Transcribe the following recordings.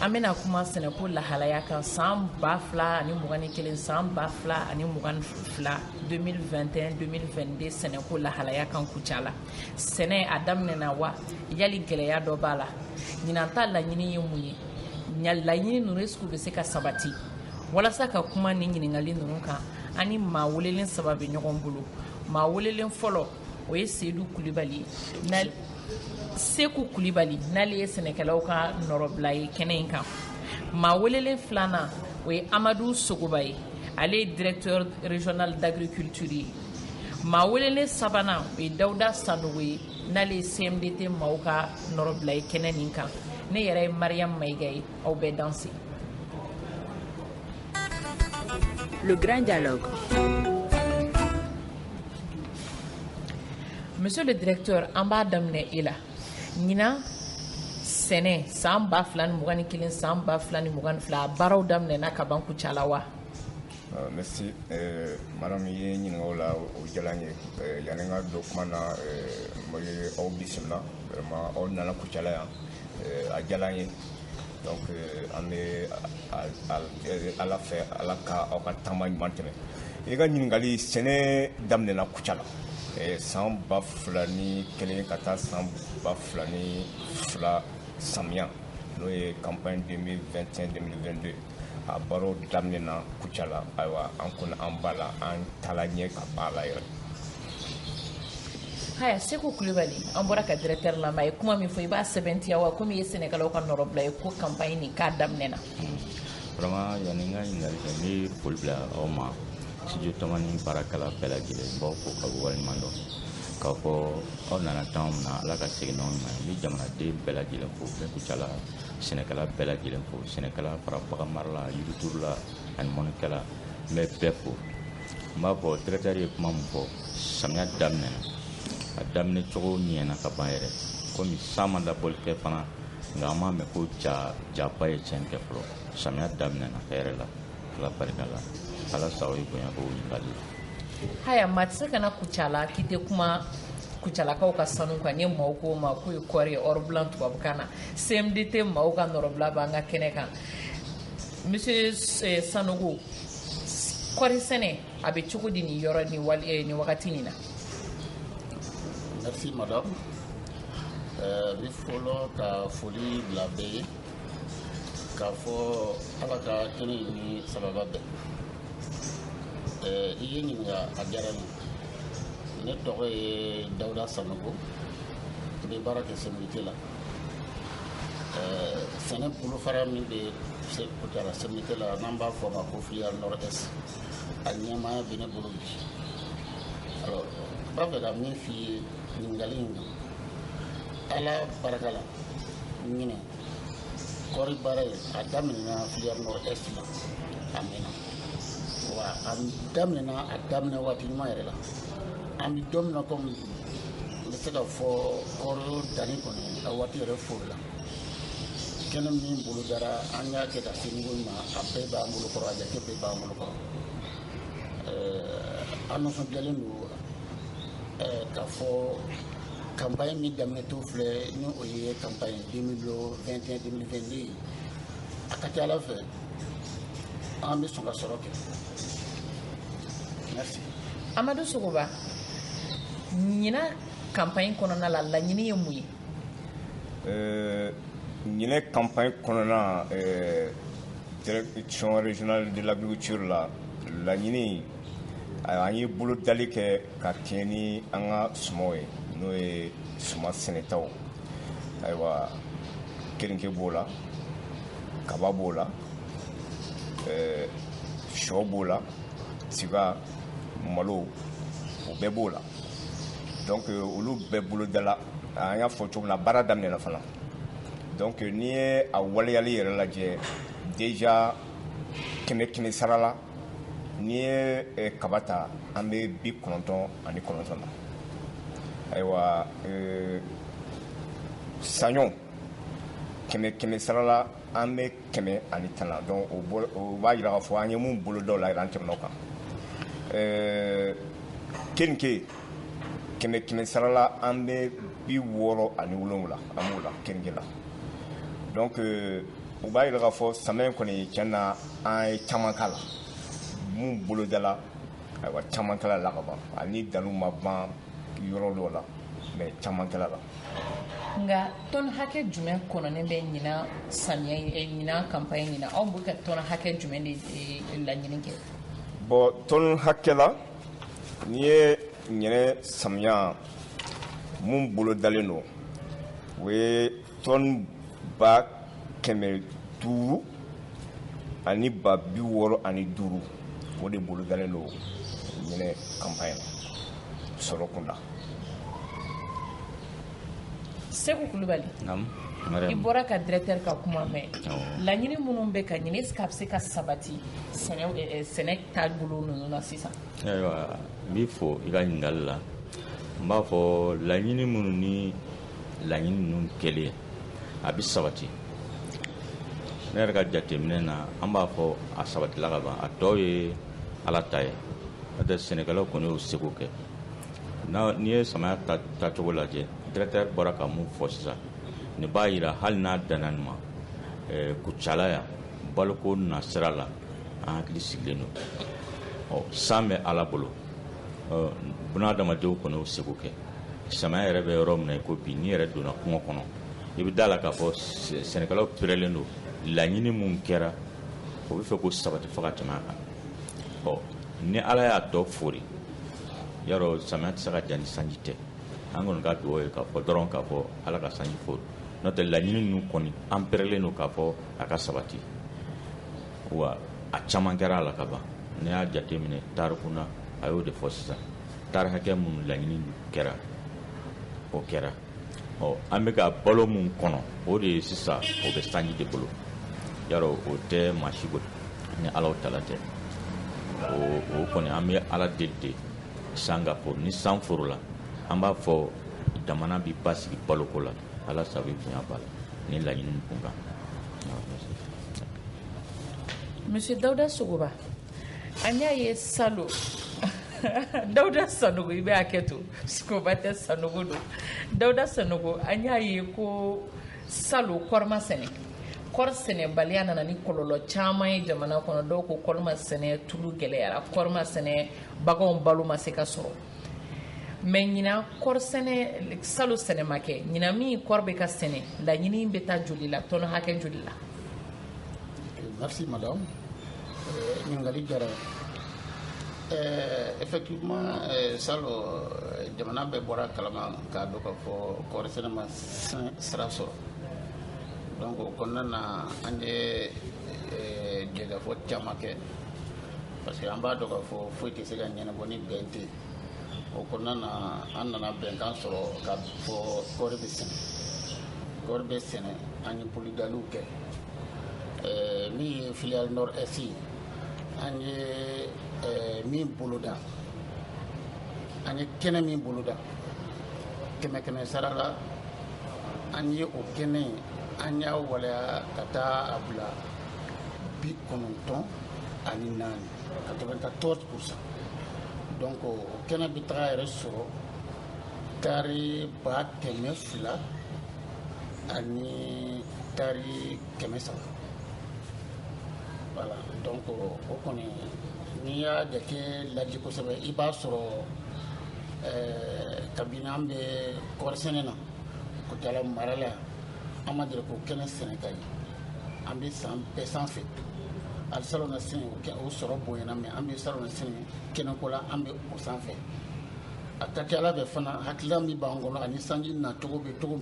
an bɛna kuma sɛnɛko lahalaya kan san ba fila ani mugan ni kelen san ba fila ani mugan ni fila 2021 2022 sɛnɛko lahalaya kan kucala sɛnɛ a daminɛna wa yali gɛlɛya dɔ b'a la ɲinan ta laɲini ye mun ye laɲini ninnu est-ce que u bɛ se ka sabati walasa ka kuma nin ɲininkali ninnu kan an ni maa welelen saba bɛ ɲɔgɔn bolo maa welelen fɔlɔ o ye sedu kulibali seku kulibali n'ale ye sɛnɛkɛlaw ka nɔrɔbila ye kɛnɛ in kan maa welelen filanan o ye amadu sogoba ye ale ye directeur régional d'agriculture ye maa welelen sabanan o ye dawuda sanogo ye n'ale ye cmdt maaw ka nɔrɔbila ye kɛnɛ nin kan ne yɛrɛ ye mariyamu mayiga ye aw bɛɛ danse Le grand dialogue. Monsieur le directeur, an b'a daminɛ e la. Ɲinan sɛnɛ san ba fila ni mugan ni kelen san ba fila ni mugan ni fila a baaraw daminɛna ka ban kucala wa? Euh, merci euh, madame i ye n ɲininka o la o diyala n ye euh, yanni n ka don kuma na n bɛ aw bisimila vraiment aw nana kucala yan a diyala n ye. donc euh, an bɛ ala fɛ ala ka aw ka taama ɲuman tɛmɛ i ka ɲininkali sɛnɛ daminɛna kucala eh, san ba fila ni kelen ka taa san ba fila ni fila samiya n'o ye campagne 2021 2022 a baaraw daminɛna kucala ayiwa an kɔni an b'a la an taala ɲɛ ka b'a la yɛrɛ haya seku kulibali an bɔra ka directeur lamɛn a ye kuma min fɔ i b'a sɛbɛntiya wa komi i ye sɛnɛkɛlaw ka nɔrɔbila ye ko campagne nin k'a daminɛna vraiment yani n ka ɲininkali kɛ n bɛ foli bila aw ma studio tamani baarakɛla bɛɛ lajɛlen n b'aw fo k'aw waleɲuman dɔn k'a fɔ aw nana taama min na ala ka segin n'aw ɲuman ye n bɛ jamanaden bɛɛ lajɛlen fo bɛɛ kucala sɛnɛkɛla bɛɛ lajɛlen fo sɛnɛkɛla fara bagan marala yiriturula ani mɔnikɛla n bɛ bɛɛ fo n b'a fɔ directeur ye kuma min fɔ samiya daminɛna a daminɛ cogo ɲɛna ka ban yɛrɛ komi san ma laboli kɛ fana nka an m'a mɛn ko ja jaba ye tiɲɛni kɛ fɔlɔ samiya daminɛna hɛrɛ la ala barika la ala sago ye bonya ko ɲininkali la haya maa tɛ se ka na kucala k'i tɛ kuma kucalakaw ka sanu kan ni maaw k'o ma k'o ye kɔɔri ye or blanc tubabukan na CMDT maaw ka nɔrɔbila b'an ka kɛnɛ kan monsieur eh, Sanogo kɔɔri sɛnɛ a bɛ cogo di nin yɔrɔ ni wali eh, nin wagati nin na. merci madame eh, n bɛ fɔlɔ ka foli bila bɛɛ ye k'a fɔ ala ka kɛnɛ ni sababa bɛɛ i ye n ɲininka a diyara n ye ne tɔgɔ ye dawuda sanogo n bɛ baara kɛ CMDT la. sɛnɛ bolofara min bɛ kucala CMDT la n'an b'a fɔ a ma ko filière nord est a ɲɛmaaya bɛ ne bolo bi alors n b'a fɛ ka min f'i ye ɲininkali in na ala barika la ɲinɛ kɔɔri baara ye a daminɛna filière nord est la a mɛnna wa a daminɛna a daminɛ waati ɲuman yɛrɛ la an bɛ don min na komi n bɛ se ka fɔ kɔɔri danni kɔni a waati yɛrɛ foorila kɛnɛ min bolodara an y'a kɛ ka se niveau min ma a bɛɛ b'an bolo kɔrɔ a jate bɛɛ b'an bolo kɔrɔ an nisɔndiyalen don k'a fɔ kanpaɲi min daminɛtɔ filɛ ni o ye kanpaɲi 2021 2022 ye a ka ca ala fɛ an bɛ sɔn ka sɔrɔ kɛ merci amadu sogoba ɲina kanpaɲi kɔnɔna la laɲini ye mun ye euh, ɲinɛ kanpaɲi kɔnɔna euh, direction régionale de l'agriculture la laɲini an ye bolodali kɛ ka kɛɲɛ ni an ka sumaw ye n'o ye suma sɛnɛtaw ayiwa keninke b'o la kaba b'o la eh, shɔ b'o la tiga malo o bɛɛ b'o la donc euh, olu bɛɛ bolodala an y'a fɔ cogo min na baara daminɛna fana donc euh, n'i ye a waleyali yɛrɛ lajɛ déjà kɛmɛ kɛmɛ sara la n'i ye euh, kaba ta an bɛ bi kɔnɔntɔn ani kɔnɔntɔn na ayiwa saɲɔ kɛmɛ kɛmɛ sara la an bɛ kɛmɛ ani tan na donc o b'a jira k'a fɔ an ye mun bolodala an tɛmɛn'o kan ɛɛ keninke kɛmɛ kɛmɛ sarala an bɛ bi wɔɔrɔ ani wolonwula an b'o la keninke la donc euh, o b'a jira k'a fɔ samiyɛ kɔni tiɲɛ na an ye caman k'a la mun bolodala ayiwa caman kɛl'a la ka ban ani danni ma ban yɔrɔ dɔw la mais caman kɛl'a la nka tɔn hakɛ jumɛn kɔnɔnen bɛ ɲinan samiya eh, ɲinan kanpaɲi ɲinan aw bɛ ka tɔn hakɛ jumɛn de eh, laɲini kɛ bon tɔn hakɛ la n'i ye ɲinɛ samiya mun bolodalen don o ye tɔn ba kɛmɛ duuru ani ba bi wɔɔrɔ ani duuru o de bolodalen don ɲinɛ kanpaɲi na sɔrɔ kunda seku kulubali i bɔra ka directeur ka kuma mɛn laɲini minnu bɛ ka ɲini est ce que a bɛ se ka sabati sɛnɛ taabolo ninnu na sisan ayiwa n b'i fo i ka ɲininkali la n b'a fɔ laɲini minnu ni laɲini ninnu kɛlen a bɛ sabati ne yɛrɛ ka jateminɛ na an b'a fɔ a sabatila ka ban a tɔ ye ala ta ye n'o tɛ sɛnɛkɛlaw kɔni y'o seko kɛ n'i ye samaya tacogo lajɛ directeur bɔra ka mun fɔ sisan nin b'a jira hali n'a danna nin ma eh, kucala yan baloko nasira la an hakili sigilen don san bɛ ala bolo bunadamadenw kɔni y'o seko kɛ samaya yɛrɛ bɛ yɔrɔ min na i ko bi n'i yɛrɛ donna kungo kɔnɔ i bɛ da la k'a fɔ sɛnɛkɛlaw perelen don laɲini minnu kɛra o b'a fɛ k'o sabati fo ka tɛmɛ a kan ɔ ni ala y'a tɔ fori yarɔ samiya tɛ se ka diya ni sanji tɛ an kɔni ka dugawu ye k'a fɔ dɔrɔn k'a fɔ ala ka sanji fori n'o tɛ laɲini ninnu kɔni an perelen don k'a fɔ a ka sabati wa a caman kɛra a la ka ban n'i y'a jateminɛ taariko na a y'o de fɔ sisan taari hakɛ minnu laɲini kɛra o kɛra ɔ an bɛ ka balo min kɔnɔ o de ye sisan o bɛ sanji de bolo yarɔ o tɛ maa si bolo ni alahu taala tɛ o kɔni an bɛ ala deli de san ka fori ni san forila an b'a fɔ jamana bɛ basigi baloko la ala sabu bonya b'a la ni laɲini kun kan monsieur dawuda sogoba An y'a ye salon dawuda sanogo i bɛ hakɛ to sogoba tɛ sanogo don dawuda sanogo an y'a ye ko salon kɔɔri ma sɛnɛ kɔɔri sɛnɛbaliya nana ni kɔlɔlɔ caman ye jamana kɔnɔ dɔw ko kɔɔri ma sɛnɛ tulu gɛlɛyara kɔɔri ma sɛnɛ baganw balo ma se ka sɔrɔ mais ɲina kɔɔri sɛnɛ salon sɛnɛ ma kɛ ɲina min kɔɔri bɛ ka sɛnɛ laɲini bɛ taa joli la tɔni hakɛ joli la merci madame euh, ɲininkali diyara euh, effectivement euh, salon jamana bɛɛ bɔra a kalama k'a dɔn k'a fɔ kɔɔri sɛnɛ ma sira sɔrɔ donc o kɔnɔna na an ye jɛkafɔ caman kɛ parce que an b'a dɔn k'a fɔ foyi tɛ se ka ɲɛnabɔ ni bɛn tɛ o kɔnɔna na an nana bɛnkan sɔrɔ k'a fɔ kɔɔri bɛ sɛnɛ kɔɔri bɛ sɛnɛ an ye bolodaliw kɛ ɛɛ min ye filiale nord est ye an ye ɛɛ min boloda an ye kɛnɛ min boloda kɛmɛ kɛmɛ sara la an ye o kɛnɛ in an y'a waleya ka taa a bila bi kɔnɔntɔn ani naani quatre-vingt-quatorze pour cent donc o kɛnɛ bɛ taga yɛrɛ sɔrɔ tari ba kɛmɛ fila ani tari kɛmɛ saba voilà donc o kɔni n'i y'a jate lajɛ kosɛbɛ i b'a sɔrɔ ɛɛ kabini an bɛ kɔɔrisɛnɛ na kucala mara la an ma deli k'o kɛnɛ sɛnɛta ye an bɛ san bɛɛ sanfɛ ali salon na sini o sɔrɔ bonyana mais an bɛ salon na sini kɛnɛko la an bɛ o sanfɛ a ka ca ala fɛ fana hakilila min b'an kɔnɔ ani sanji nacogo bɛ cogo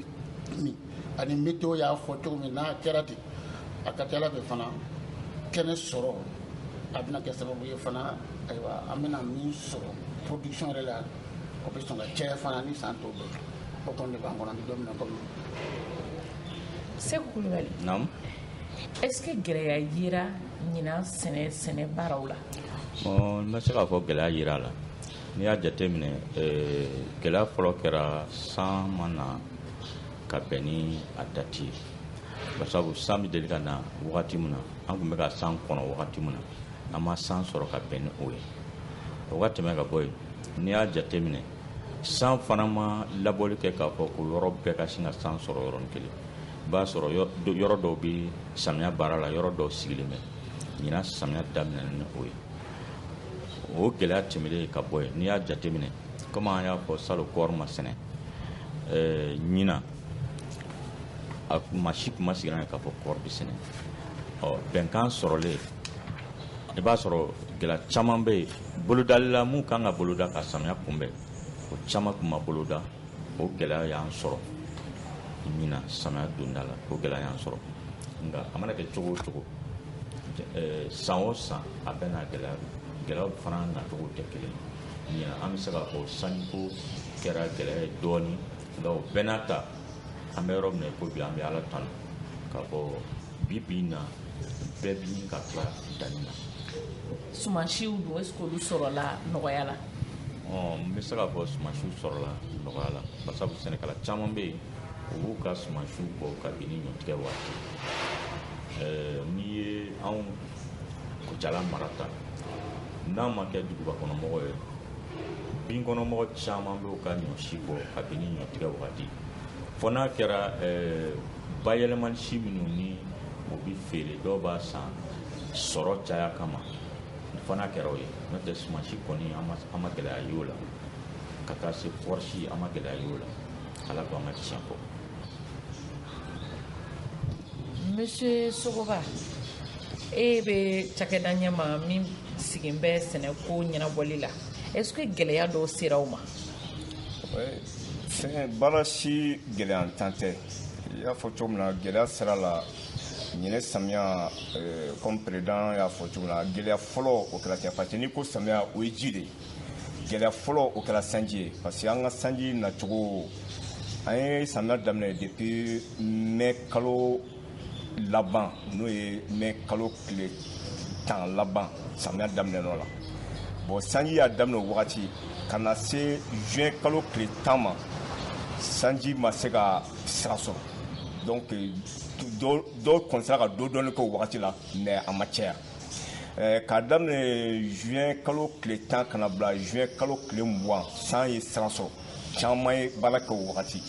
min ani météo y'a fɔ cogo min n'a kɛra ten a ka ca ala fɛ fana kɛnɛ sɔrɔ a bɛna kɛ sababu ye fana ayiwa an bɛna min sɔrɔ production yɛrɛ la o bɛ sɔn ka caya fana ni san tɔw bɛɛ o kɔni de b'an kɔnɔ an bɛ don min na komi seku kulubali est-ce que gɛlɛya yera ɲinan sɛnɛ sɛnɛ baaraw la bon n bɛ se k'a fɔ gɛlɛya yera a la n'i y'a jateminɛ eh, gɛlɛya fɔlɔ kɛra san ma na ka bɛn ni a dati ye basabu san bɛ deli ka na wagati min na an tun bɛ ka san kɔnɔ wagati min na an ma san sɔrɔ ka bɛn ni o ye o ka tɛmɛ ka bɔ yen n'i y'a jateminɛ san fana ma labɔli kɛ k'a fɔ ko yɔrɔ bɛɛ ka sin ka san sɔrɔ yɔrɔnin kelen i b'a sɔrɔ yɔrɔ dɔw bɛ samiya baara la yɔrɔ dɔw sigilen bɛ ɲinan samiya daminɛna ni o ye o gɛlɛya tɛmɛlen ka bɔ yen n'i y'a jateminɛ komi an y'a fɔ salon kɔɔri ma sɛnɛ ɛɛ ɲinan maa si tun ma sigira k'a fɔ kɔɔri bɛ sɛnɛ ɔ bɛnkan sɔrɔlen i b'a sɔrɔ gɛlɛya caman bɛ yen bolodali la mun ka kan ka boloda ka samiya kunbɛn o caman tun ma boloda o gɛlɛya y'an sɔrɔ ɲinan samiya donda la o gɛlɛya y'an sɔrɔ nka a mana kɛ cogo o cogo eh, san o san a bɛ na gɛlɛya gɛlɛyaw fana nacogo tɛ kelen ye ɲinan an bɛ se k'a fɔ sanjiko kɛra gɛlɛya ye dɔɔnin nka o bɛɛ n'a ta an bɛ yɔrɔ min na i ko bi an bɛ ala tanu k'a fɔ bi bi in na bɛɛ bi ka tila danni na sumansiw dun est-ce que olu sɔrɔla nɔgɔya la n bɛ se k'a fɔ sumansiw sɔrɔla nɔgɔya la basabu sɛnɛkɛla caman bɛ yen u b'u ka sumansiw bɔ kabini ɲɔtigɛ waati n'i ye anw kucala mara ta n'a ma kɛ duguba kɔnɔmɔgɔ ye bin kɔnɔmɔgɔ caman bɛ u ka ɲɔsi bɔ kabini ɲɔtigɛ waati fɔ n'a kɛra eh, bayɛlɛmani si minnu ni o bɛ feere dɔw b'a san sɔrɔ caya kama fɔ n'a kɛra o ye n'o tɛ sumansi kɔni an ma gɛlɛya y'o la ka taa se kɔɔrisi an ma gɛlɛya y'o la ala ko an ka tiɲɛ fɔ monsieur sogoba e bɛ cakɛda ɲɛma min sigin bɛ sɛnɛko ɲɛnabɔli la est ce que gɛlɛya dɔw sera aw ma fɛn baara si gɛlɛyantan tɛ i y'a fɔ cogo min na gɛlɛya sɔrɔla ɲinɛ samiya kɔmi eh, président y'a fɔ cogo min na gɛlɛya fɔlɔ o kɛra cɛ parce que n'i ko samiya o ye ji de ye gɛlɛya fɔlɔ o kɛra sanji ye parce que an ka sanji nacogo an ye samiya daminɛ depuis mɛ kalo laban n'o ye mɛ kalo tile tan laban samiya daminɛn'o la bon sanji y'a daminɛ o wagati ka na se juin kalo tile tan ma sanji ma se ka sira sɔrɔ donc dɔw kɔni sera ka dɔ dɔɔni kɛ o wagati la mais a ma caya eh, k'a daminɛ juin kalo tile tan ka na bila juin kalo tile mugan san ye sira sɔrɔ caman ye baara kɛ o wagati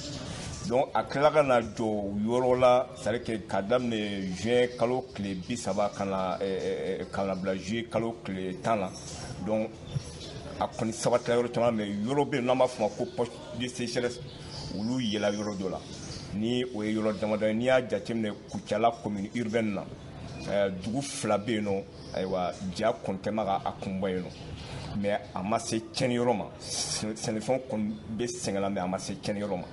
donc a tilala ka na jɔ yɔrɔ la c'est à dire que k'a daminɛ juin kalo tile bi saba ka na eh, eh, ka na bila juillet kalo tile tan na donc a kɔni sabatila yɔrɔ caman mais yɔrɔ bɛ yen n'an b'a fɔ o ma ko poche de sécheresse olu yela yɔrɔ dɔ la ni o ye yɔrɔ damadɔ ye n'i y'a jateminɛ kucala commune urbaine na eh, dugu fila bɛ yen nɔ ayiwa ja kɔni tun bɛ ka a kunbɔ yen nɔ mais a ma se cɛniyɔrɔ ma sɛnɛfɛn kɔni bɛ sɛgɛn la mais a ma se cɛniyɔrɔ ma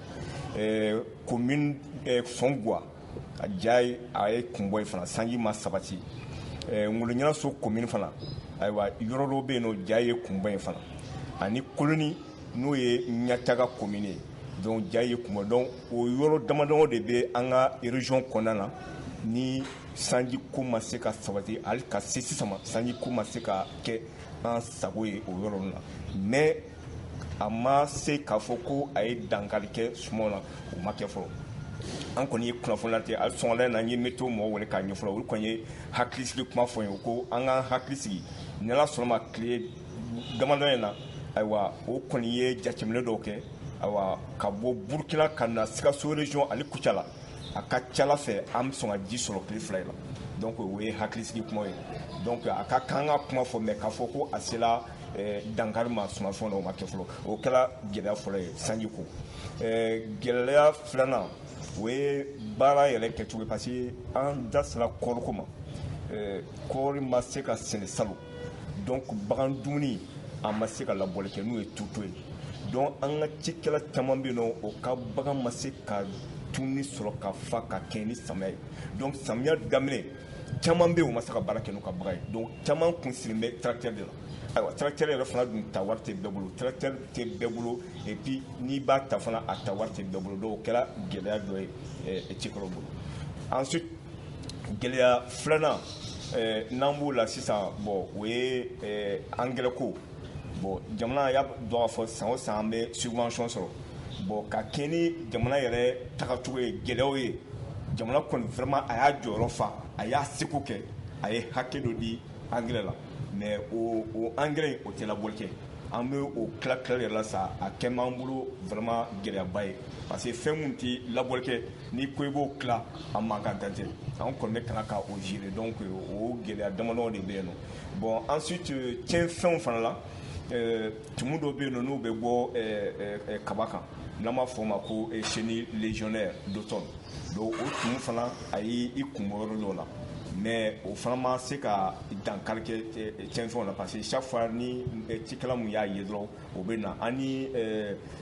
komin sɔnguwa a ja a ye kunbɔ yen fana sanji ma sabati ŋoloɲanaso komin fana ayiwa yɔrɔ dɔw bɛ yen nɔ ja ye kunbɔ yen fana ani koloni n'o ye ɲantaga komin ye donc ja ye kunbɔ donc o yɔrɔ damadɔ de bɛ an ka région kɔnɔna na ni sanji ko ma se ka sabati hali ka se sisan ma sanji ko ma se ka kɛ an sago ye o yɔrɔ ninnu na mais a ma se k'a fɔ ko a ye dankari kɛ sumaw la o ma kɛ fɔlɔ an kɔni ye kunnafoni late hali sɔgɔmada na n ye météo mɔgɔ wele k'a ɲɛfɔ olu kɔni ye hakilisigi kuma fɔ n ye ko an k'an hakili sigi ni ala sɔnna a ma tile damadɔ in na ayiwa o kɔni ye jateminɛ dɔw kɛ ayiwa ka bɔ burukina ka na sikaso région ani kucala a ka c'a la fɛ an bɛ sɔn ka ji sɔrɔ tile fila in na donc o ye hakilisigi kuma ye donc a ka kan ka kuma fɔ mais k'a fɔ ko a sela eh, dankari ma sumanfɛnw na o ma kɛ fɔlɔ o kɛra gɛlɛya fɔlɔ ye sanji ko eh, gɛlɛya filanan o ye baara yɛrɛ kɛcogo ye parce que an da sera kɔɔriko ma eh, kɔɔri ma se ka sɛnɛ salon donc bagan dumuni a ma se ka labɔli kɛ n'o ye tourteau ye donc an ka cikɛla caman bɛ yen nɔ o ka bagan ma se ka dumuni sɔrɔ ka fa ka kɛɲɛ ni samiya ye donc samiya daminɛ caman bɛ yen o ma se ka baara kɛ n'u ka bagan ye donc caman kun sigilen bɛ tracteur de la ayiwa tracteur yɛrɛ fana dun ta wari tɛ bɛɛ bolo tracteur tɛ bɛɛ bolo et puis n'i b'a ta fana a ta wari tɛ bɛɛ bolo donc o kɛra gɛlɛya dɔ ye cikɛlaw bolo ensuite gɛlɛya filanan eh, n'an b'o la sisan bon o ye eh, angɛrɛko bon jamana y'a dɔn k'a fɔ san o san an bɛ subvention sɔrɔ bon ka kɛɲɛ ni jamana yɛrɛ tagacogo ye gɛlɛyaw ye jamana kɔni vraiment a y'a jɔyɔrɔ fa a y'a seko kɛ a ye hakɛ dɔ di angɛrɛ la mais o o angɛrɛ in o tɛ labɔli kɛ an bɛ o tila tilali yɛrɛ la sa a kɛ m'an bolo vraiment gɛlɛyaba ye parce que fɛn min tɛ labɔli kɛ n'i ko i b'o tila a mankan dan tɛ an kɔni bɛ ka na ka o gérer donc o gɛlɛya damadɔ de bɛ yen nɔ bon ensuite euh, tiɲɛfɛnw fana la euh, tumu dɔ bɛ yen nɔ n'u bɛ bɔ euh, kaba kan n'an b'a fɔ o ma ko chenille légionnaire d'automne donc o tumu fana a y'i kun bɔ yɔrɔ dɔw la mais o fana ma se ka dankari kɛ tiɲɛnfɛnw na parce que chaque fois ni cikɛla mun y'a ye dɔrɔn o bɛ na an ni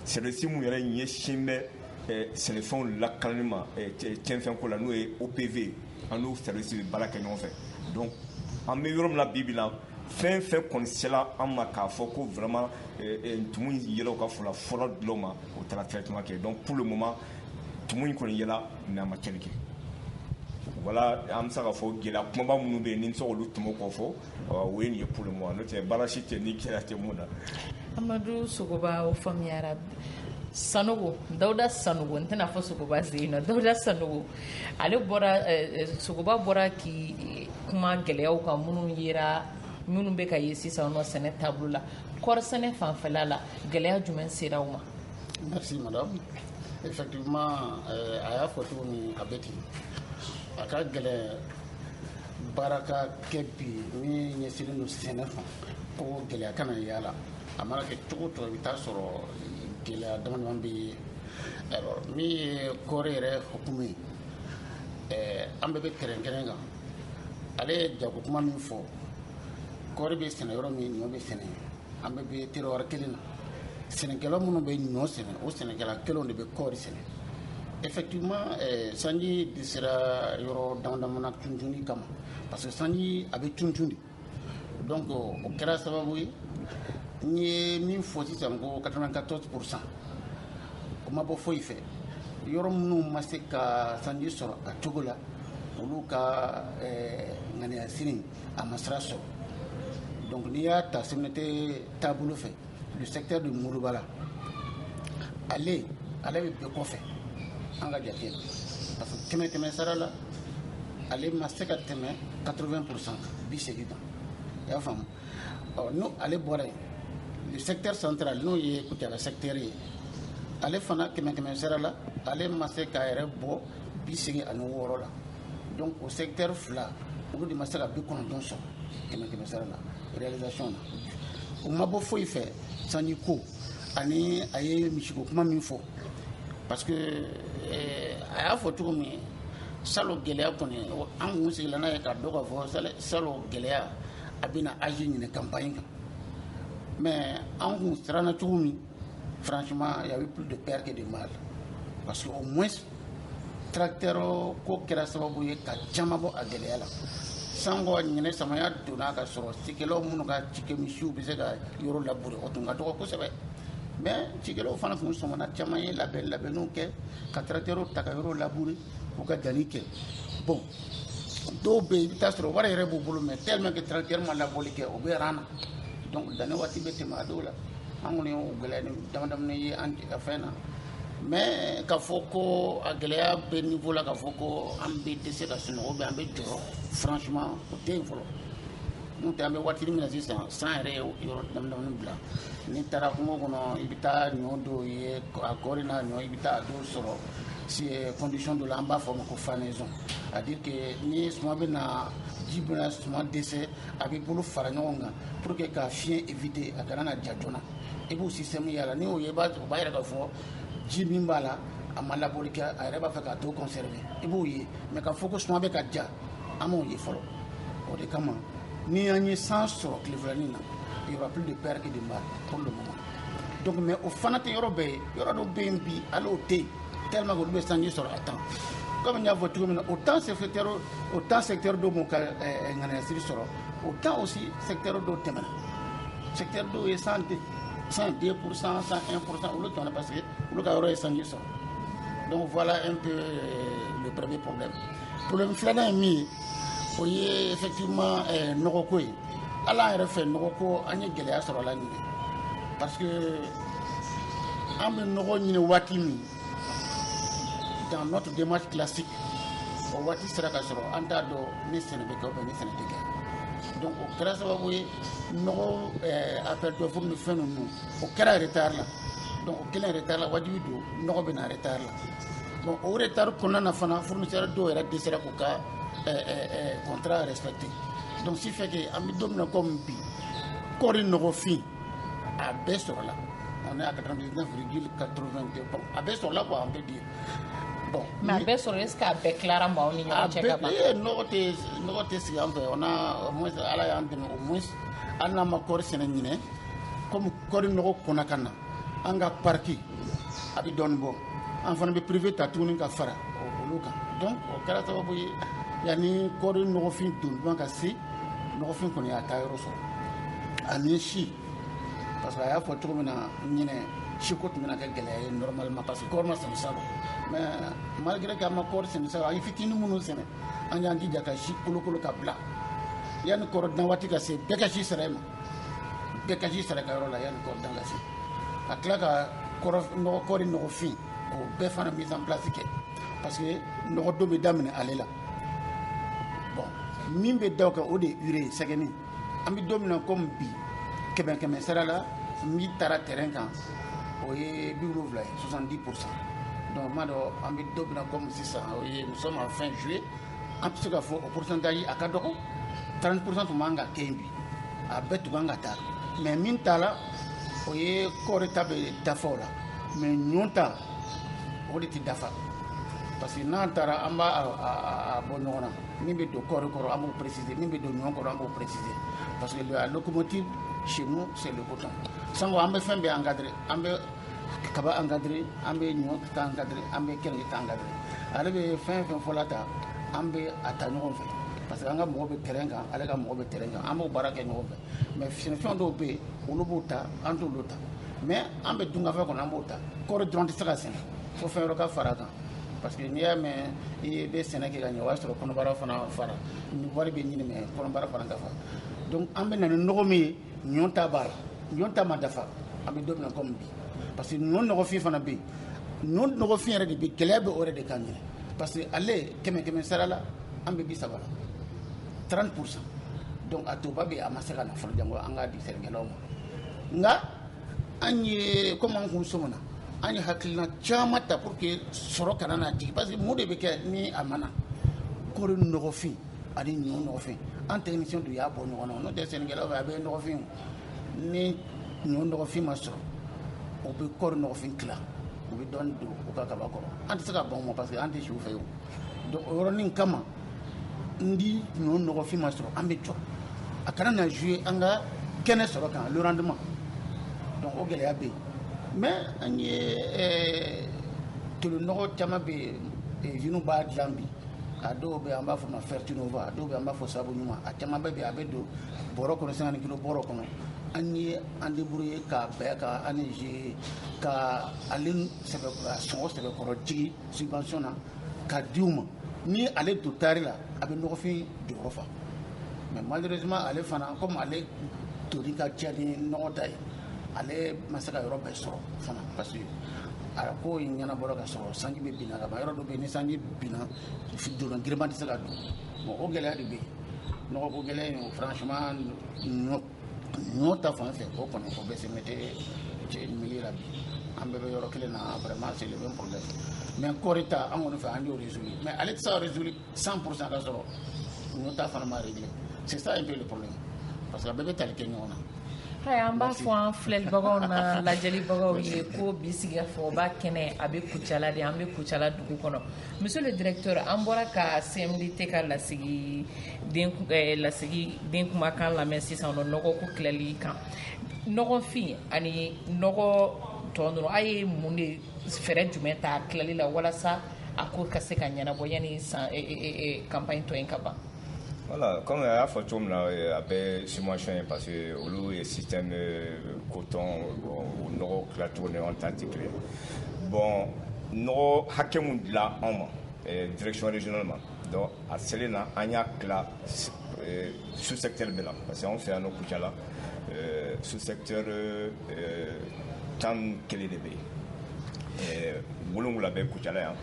service mun yɛrɛ ɲɛsin bɛ sɛnɛfɛnw lakanali ma cɛnfɛn ko la n'o ye OPV an n'o service bɛ baara kɛ ɲɔgɔn fɛ donc an bɛ yɔrɔ min na bi bi in na fɛn fɛn kɔni sela an ma k'a fɔ ko vraiment tumu in yela u ka foro la fɔlɔ dulɔ ma o taara traitement kɛ donc pour le moment tumu in kɔni yela mais a ma tiɲɛni kɛ voilà an bɛ se k'a fɔ gɛlɛya kumaba minnu bɛ yen ni n bɛ se k'olu tɔmɔ k'o fɔ o ye nin ye pour le moment n'o tɛ baara si tɛ ni gɛlɛya tɛ mun na amadu sogoba o faamuyara sanogo dawuda sanogo n tɛna fɔ sogoba sen in na dawuda sanogo ale bɔra eh, eh, sogoba bɔra k'i kuma gɛlɛyaw kan minnu yera minnu bɛ ka ye sisan nɔ sɛnɛ taabolo la kɔɔri sɛnɛ fanfɛla la gɛlɛya jumɛn sera aw ma merci madame effectivement eh, a y'a fɔ cogo min a bɛ ten a ka gɛlɛn baara ka kɛ bi min ɲɛsinnen don sɛnɛ fan ko gɛlɛya kana y'a la a mana kɛ cogo o cogo i bɛ taa sɔrɔ gɛlɛya damadama bɛ yen alors min ye kɔɔri yɛrɛ hukumu ye an bɛɛ bɛ kɛrɛnkɛrɛn kan ale ye jago kuma min fɔ kɔɔri bɛ sɛnɛ yɔrɔ min ɲɔ bɛ sɛnɛ yen an bɛɛ bɛ terroir kelen na sɛnɛkɛla minnu bɛ ɲɔ sɛnɛ o sɛnɛkɛla kelenw de bɛ kɔɔri sɛnɛ effectivement eh, sanji dɛsɛra yɔrɔ dama dama na tuntuni kama parce que sanji a bɛ tuntun de donc o kɛra sababu ye n ye min fɔ sisan ko 94 pourcent o ma bɔ foyi fɛ yɔrɔ minnu ma se ka sanji sɔrɔ a cogo la olu ka eh, ŋaniyasiri a ma sira sɔrɔ donc n'i y'a ta CMDT taabolo fɛ le secteur de Molobala ale ale bɛ bɛɛ kɔfɛ an ka jate la parce que kɛmɛ kɛmɛ sara la ale ma se ka tɛmɛ 80 pourcent bi segin kan i y'a faamu ɔ n'o ale bɔra yen le secteur central n'o ye Kucala secteur ye ale fana kɛmɛ kɛmɛ sara la ale ma se k'a yɛrɛ bɔ bi segin ani wɔɔrɔ la donc o secteur fila olu de ma se ka bi kɔnɔntɔn sɔrɔ kɛmɛ kɛmɛ sara la réalisation na o ma bɔ foyi fɛ sanji kɔ ani a ye misiko kuma min fɔ parce que eh, a y'a fɔ cogo min salon gɛlɛya kɔni an kun sigila n'a ye k'a dɔn k'a fɔ salon gɛlɛya a bɛna agir ɲinɛ campagne kan mais an kun siranna cogo min franchement il y avait plus de peur que de mal parce que au moins tracteur ko kɛra sababu ye ka caman bɔ a gɛlɛya la sango ɲinɛ samaya donna ka sɔrɔ cikɛlaw minnu ka cikɛ misiw bɛ se ka yɔrɔ labure o tun ka dɔgɔ kosɛbɛ mais cikɛlaw fana tun sɔmana caman ye labɛn labɛnniw kɛ ka tracteurw ta ka yɔrɔ labure u ka danni kɛ bon dɔw bɛ yen i bɛ taa sɔrɔ wari yɛrɛ b'u bolo mais tellement que tracteur ma labɔli kɛ o bɛ rang na donc danni waati bɛ tɛmɛ a dɔw la an kɔni y'o gɛlɛya ni dama damani ye an fan na mais k'a fɔ ko a gɛlɛya bɛ niveau la k'a fɔ ko an bɛ dɛsɛ ka sunɔgɔ bɛ an bɛ jɔrɔ franchement o tɛ yen fɔlɔ n'o tɛ an bɛ waati min na sisan san yɛrɛ ye yɔrɔ dama damani bila n'i taara kungo kɔnɔ i bɛ taa ɲɔ dɔw ye a kɔɔri n'a ɲɔ i bɛ taa a dɔw sɔrɔ si eh, condition dɔ la an b'a fɔ o ma ko fanaison c'est à dire que ni suma bɛ na ji bɛna suma dɛsɛ a bɛ bolo fara ɲɔgɔn kan pour que ka fiɲɛ éviter a kana na ja joona i b'o système y'a la n'i y'o ye i b'a o b'a yira k'a fɔ ji min b'a la a ma labɔli kɛ a yɛrɛ b'a fɛ k'a tɔ conserver i b'o ye mais k'a fɔ ko suma bɛ ka ja an m'o ye fɔlɔ o de kama ni an ye san sɔrɔ tile filanin na il y aura plus de peur que de mal pour le moment donc mais o fana tɛ yɔrɔ bɛɛ ye yɔrɔ dɔ bɛ yen bi hali o tɛ yen tellement que olu bɛ sanji sɔrɔ à temps comme n y'a fɔ cogo min na autant secteur autant secteur dɔw m'u ka ŋaniyasiri sɔrɔ autant aussi secteur dɔw tɛmɛna secteur dɔw ye cent deux cent deux pour cent cent un pour cent olu tɛmɛna parce que olu ka yɔrɔ ye sanji sɔrɔ donc voilà un peu le premier problème Problème filanan ye min ye o ye effectivement ɛɛ nɔgɔko ye hali an yɛrɛ fɛ nɔgɔko an ye gɛlɛya sɔrɔ a la ɲinɛ parce que an bɛ nɔgɔ ɲini waati min dans notre démarche classique o waati sera ka sɔrɔ an t'a dɔn ni sɛnɛ bɛ kɛ ou bien ni sɛnɛ tɛ kɛ donc o kɛra sababu ye nɔgɔ ɛɛ appel d'offre ni fɛn ninnu o kɛra retard la donc o kɛlen retard la wajibi don nɔgɔ bɛ na retard la. Bon o retari kɔnɔna na fana fsɛri dɔw yɛrɛ de sera k'u ka kɔnta yɛrɛ sabati don si fɛ an bɛ don kɔ min bi kɔɔri nɔgɔfin a bɛɛ sɔrɔ la a bɛɛ sɔrɔ an bɛ bi bɔn mɛ a bɛɛ sɔrɔ se k'a bɛɛ tilara maaw ni ɲɔgɔn cɛ nɔgɔ tɛ sigi an fɛ o ala y'an dɛmɛ o an n'an ma kɔɔri sɛnɛ ɲinin kɔmi kɔɔri nɔgɔ kɔnɔ ka na an ka parc a bɛ dɔɔnin bɔ an fana bɛ privé ta tuguni ka fara olu kan donc o kɛra sababu ye yanni kɔɔri nɔgɔfin donba ka se nɔgɔfin kɔni y'a taa yɔrɔ sɔrɔ ani si parce que a y'a fɔ cogo min na ɲinɛ siko tun bɛna kɛ gɛlɛya ye normalement parce que kɔɔri ma sɛnɛ salon mais malgré que an ma kɔɔri sɛnɛ salon an ye fitinin minnu sɛnɛ an y'an jija ka si kolokolo ka bila yanni kɔɔri dan waati ka se bɛɛ ka si sera i ma bɛɛ ka si sera a ka yɔrɔ la yanni kɔɔri dan ka se ka tila ka kɔɔri nɔgɔfin k'o bɛɛ fana mise en place kɛ parce que nɔgɔ don bɛ daminɛ ale la bon min bɛ da o kan o de ye urée ye sɛgɛnin an bɛ don min na comme bi kɛmɛ kɛmɛ sara la min taara terrain kan o ye bi wolonwula ye 70 pour cent donc n b'a dɔn an bɛ don min na comme sisan o ye nous sommes en fin juillet an bɛ se ka fɔ o pourcentage a ka dɔgɔ 30 pour cent tun man kan ka kɛ yen bi a bɛɛ tun kan ka taa mais min t'a la o ye kɔɔri ta bɛ dafa o la mais ɲɔ ta o de tɛ dafa parce que n'an taara an b'a bɔ ɲɔgɔn na min bɛ don kɔɔri kɔrɔ an b'o préciser min bɛ don ɲɔ kɔrɔ an b'o préciser parce que la locomotive chez nous c'est le coton sango an bɛ fɛn bɛɛ encadrer an bɛ kaba encadrer an bɛ ɲɔ ta encadrer an bɛ keninge ta encadrer ale bɛ fɛn fɛn fɔla ta an bɛ a ta ɲɔgɔn fɛ parce que an ka mɔgɔ bɛ terrain kan ale ka mɔgɔ bɛ terrain kan an b'o baara kɛ ɲɔgɔn fɛ mais sɛnɛfɛn dɔw bɛ yen olu b'o ta an t'olu ta mais an bɛ dunkafa kɔnɔ an b'o ta kɔɔri dɔrɔn tɛ se ka sɛnɛ fo fɛn wɛrɛ ka fara kan parce que n'i y'a mɛn i bɛ sɛnɛ kɛ ka ɲɛ o y'a sɔrɔ kɔnɔbara fana fara wari bɛ ɲini mais kɔnɔbara fana ka fa donc an bɛ na ni nɔgɔ min ye ɲɔ ta b'a la ɲɔ ta ma dafa an bɛ don min na komi bi parce que ɲɔ nɔgɔfin fana bɛ yen ɲɔ nɔgɔfin yɛrɛ de bɛ gɛlɛya bɛ o yɛrɛ de kan ɲɛ parce que ale kɛmɛ kɛmɛ sara la an bɛ bi saba la 30 pour cent donc a tɔba bɛ a ma se ka na fɔlɔ janko an k'a di sɛnɛkɛlaw ma nka an ye komi an kun sɔmina an ye hakilina caman ta pour que sɔrɔ kana na jigin parce que mun de bɛ kɛ ni a mana kɔɔri nɔgɔfin ani ɲɔ nɔgɔfin an technicien de y'a bɔ ɲɔgɔn na n'o tɛ sɛnɛkɛlaw fɛ a bɛɛ nɔgɔfin ni ɲɔ nɔgɔfin ma sɔrɔ o bɛ kɔɔri nɔgɔfin tila u bɛ dɔɔni don u ka kaba kɔrɔ an tɛ se ka ban o ma parce que an tɛ si u fɛ yen donc o yɔrɔnin kama n di ɲɔ nɔgɔfin ma sɔrɔ an bɛ jɔrɔ a kana na jouer an ka kɛnɛ sɔrɔ kan le rendement donc o gɛlɛya bɛ yen mais an ye tolinɔgɔ caman bɛ yen usines b'a dilan bi a dɔw bɛ an b'a fɔ ma Fertinova a dɔw bɛ an b'a fɔ sabu ɲuman a caman bɛɛ bɛ a bɛ don bɔrɔ kɔnɔ 50 kilo bɔrɔ kɔnɔ an ye an débrouiller k'a bɛɛ ka an ze ka ale sɔngɔ sɛbɛkɔrɔ jigin subvention na k'a di u ma ni ale don taari la a bɛ nɔgɔfin jɔyɔrɔ fa mais malheureusement ale fana comme ale doni ka ca ni nɔgɔ ta ye ale ma se ka yɔrɔ bɛɛ sɔrɔ fana parce que a ko in ɲɛnabɔra ka sɔrɔ sanji bɛ binna ka ban yɔrɔ dɔ bɛ yen ni sanji binna doni girinman tɛ se ka don bon o gɛlɛya de bɛ yen nɔgɔko gɛlɛya in o franchement ɲɔ ɲɔ ta fan fɛ o kɔni o bɛ cmdt milieu la bi an bɛɛ bɛ yɔrɔ kelen na vraiment c'est le même problème mais kɔɔri ta fan kɔni fɛ an y'o résoudre mais ale tɛ se ka résoudre 100 pour cent ka sɔrɔ ninnu ta fana ma réglé c'est ça un peu le problème parce que a bɛɛ bɛ tali kɛ ɲɔgɔn na hayi an b'a fɔ an filɛlibagaw n'an lajɛlibagaw ye ko bi sigikafɔba kɛnɛ a bɛ kucala de an bɛ kucala dugu kɔnɔ monsieur le directeur an bɔra ka cmdt ka lasigiden eh, lasigiden kumakan lamɛn sisan nɔ nɔgɔko tilali kan nɔgɔfin ani nɔgɔ tɔ ninnu a ye mun de fɛɛrɛ jumɛn ta tilali la walasa a ko ka se ka ɲɛnabɔ yanni campagne tɔ in ka ban Voilà, comme a y'a fɔ cogo min na a bɛɛ subvention ye parce que olu ye système coton o nɔgɔ tilacogo ni anw ta tɛ kelen bon nɔgɔ hakɛ min dila anw ma direction régionale ma donc a selen na an y'a tila sous secteur bɛɛ la parce que anw fɛ yan nɔ Kucala sous secteur tan ni kelen de bɛ yen wolonwula bɛ kucala yan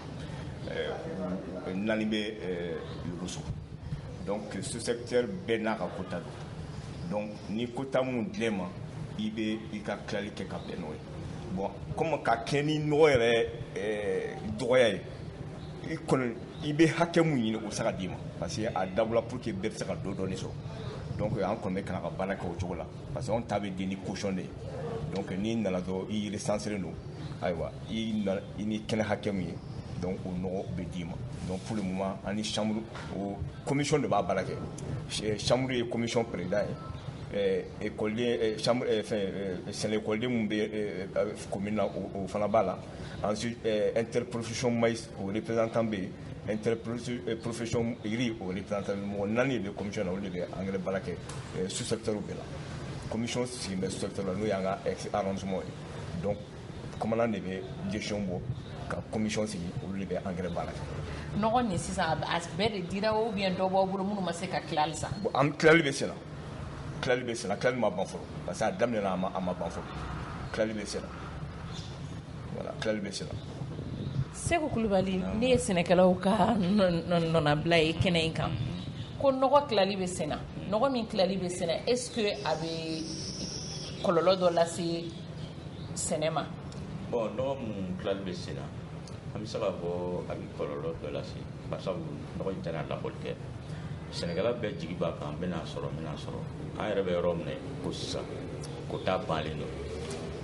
naani bɛ yorosso donc sous-secteur bɛɛ n'a ka quota don donc ni quota min dila i ma i bɛ i ka tilali kɛ ka bɛn n'o ye bon comme ka kɛ ni nɔgɔ yɛrɛ dɔgɔya ye i kɔni i bɛ hakɛ min ɲini o tɛ se ka d'i ma parce que a dabɔla pour que bɛɛ bɛ se ka dɔ dɔɔni sɔrɔ donc an kɔni bɛ kan ka baara kɛ o cogo la parce que anw ta bɛ di ni caution de ye donc n'i nana dɔrɔn i recenserlen don ayiwa i na i ni kɛnɛ hakɛ min ye donc o nɔgɔ bɛ d'i ma donc pour le moment an ni chambre o commission de b'a baara kɛ chambre ye commission président ye ekɔliden chambre fɛn sɛnɛ ekɔliden minnu bɛ commune na o fana b'a la ensuite interprofession maïs o représentant bɛ yen interprofession riz o représentant mɔgɔ naani de bɛ commission na olu de bɛ engrais baara kɛ sous secteur bɛɛ la commission sigilen bɛ sous secteur la n'o y'an ka arrondissement ye donc commandant de bɛ décision bɔ ka commission sigi olu de bɛ engrais baara kɛ nɔgɔ nin sisan a bɛɛ de dira ou bien dɔ b'aw bolo minnu ma se ka tilali sa an tilali bɛ sen na tilali bɛ sen na tilali ma ban fɔlɔ parce que a daminɛna a ma ban fɔlɔ tilali bɛ sen na tilali bɛ sen Seku Kulubali ne ye sɛnɛkɛlaw ka nɔnabila ye kɛnɛ in kan ko nɔgɔ tilali bɛ sen na nɔgɔ min tilali bɛ sen na est ce que a bɛ kɔlɔlɔ dɔ lase sɛnɛ ma bon nɔgɔ mun tilali bɛ sen na an bɛ se k'a fɔ a bɛ kɔlɔlɔ dɔ lase barisabu nɔgɔ in tɛna labɔli kɛ sɛnɛkɛla bɛɛ jigi b'a kan n bɛna sɔrɔ n bɛna sɔrɔ an yɛrɛ bɛ yɔrɔ min na ko sisan kota bannen don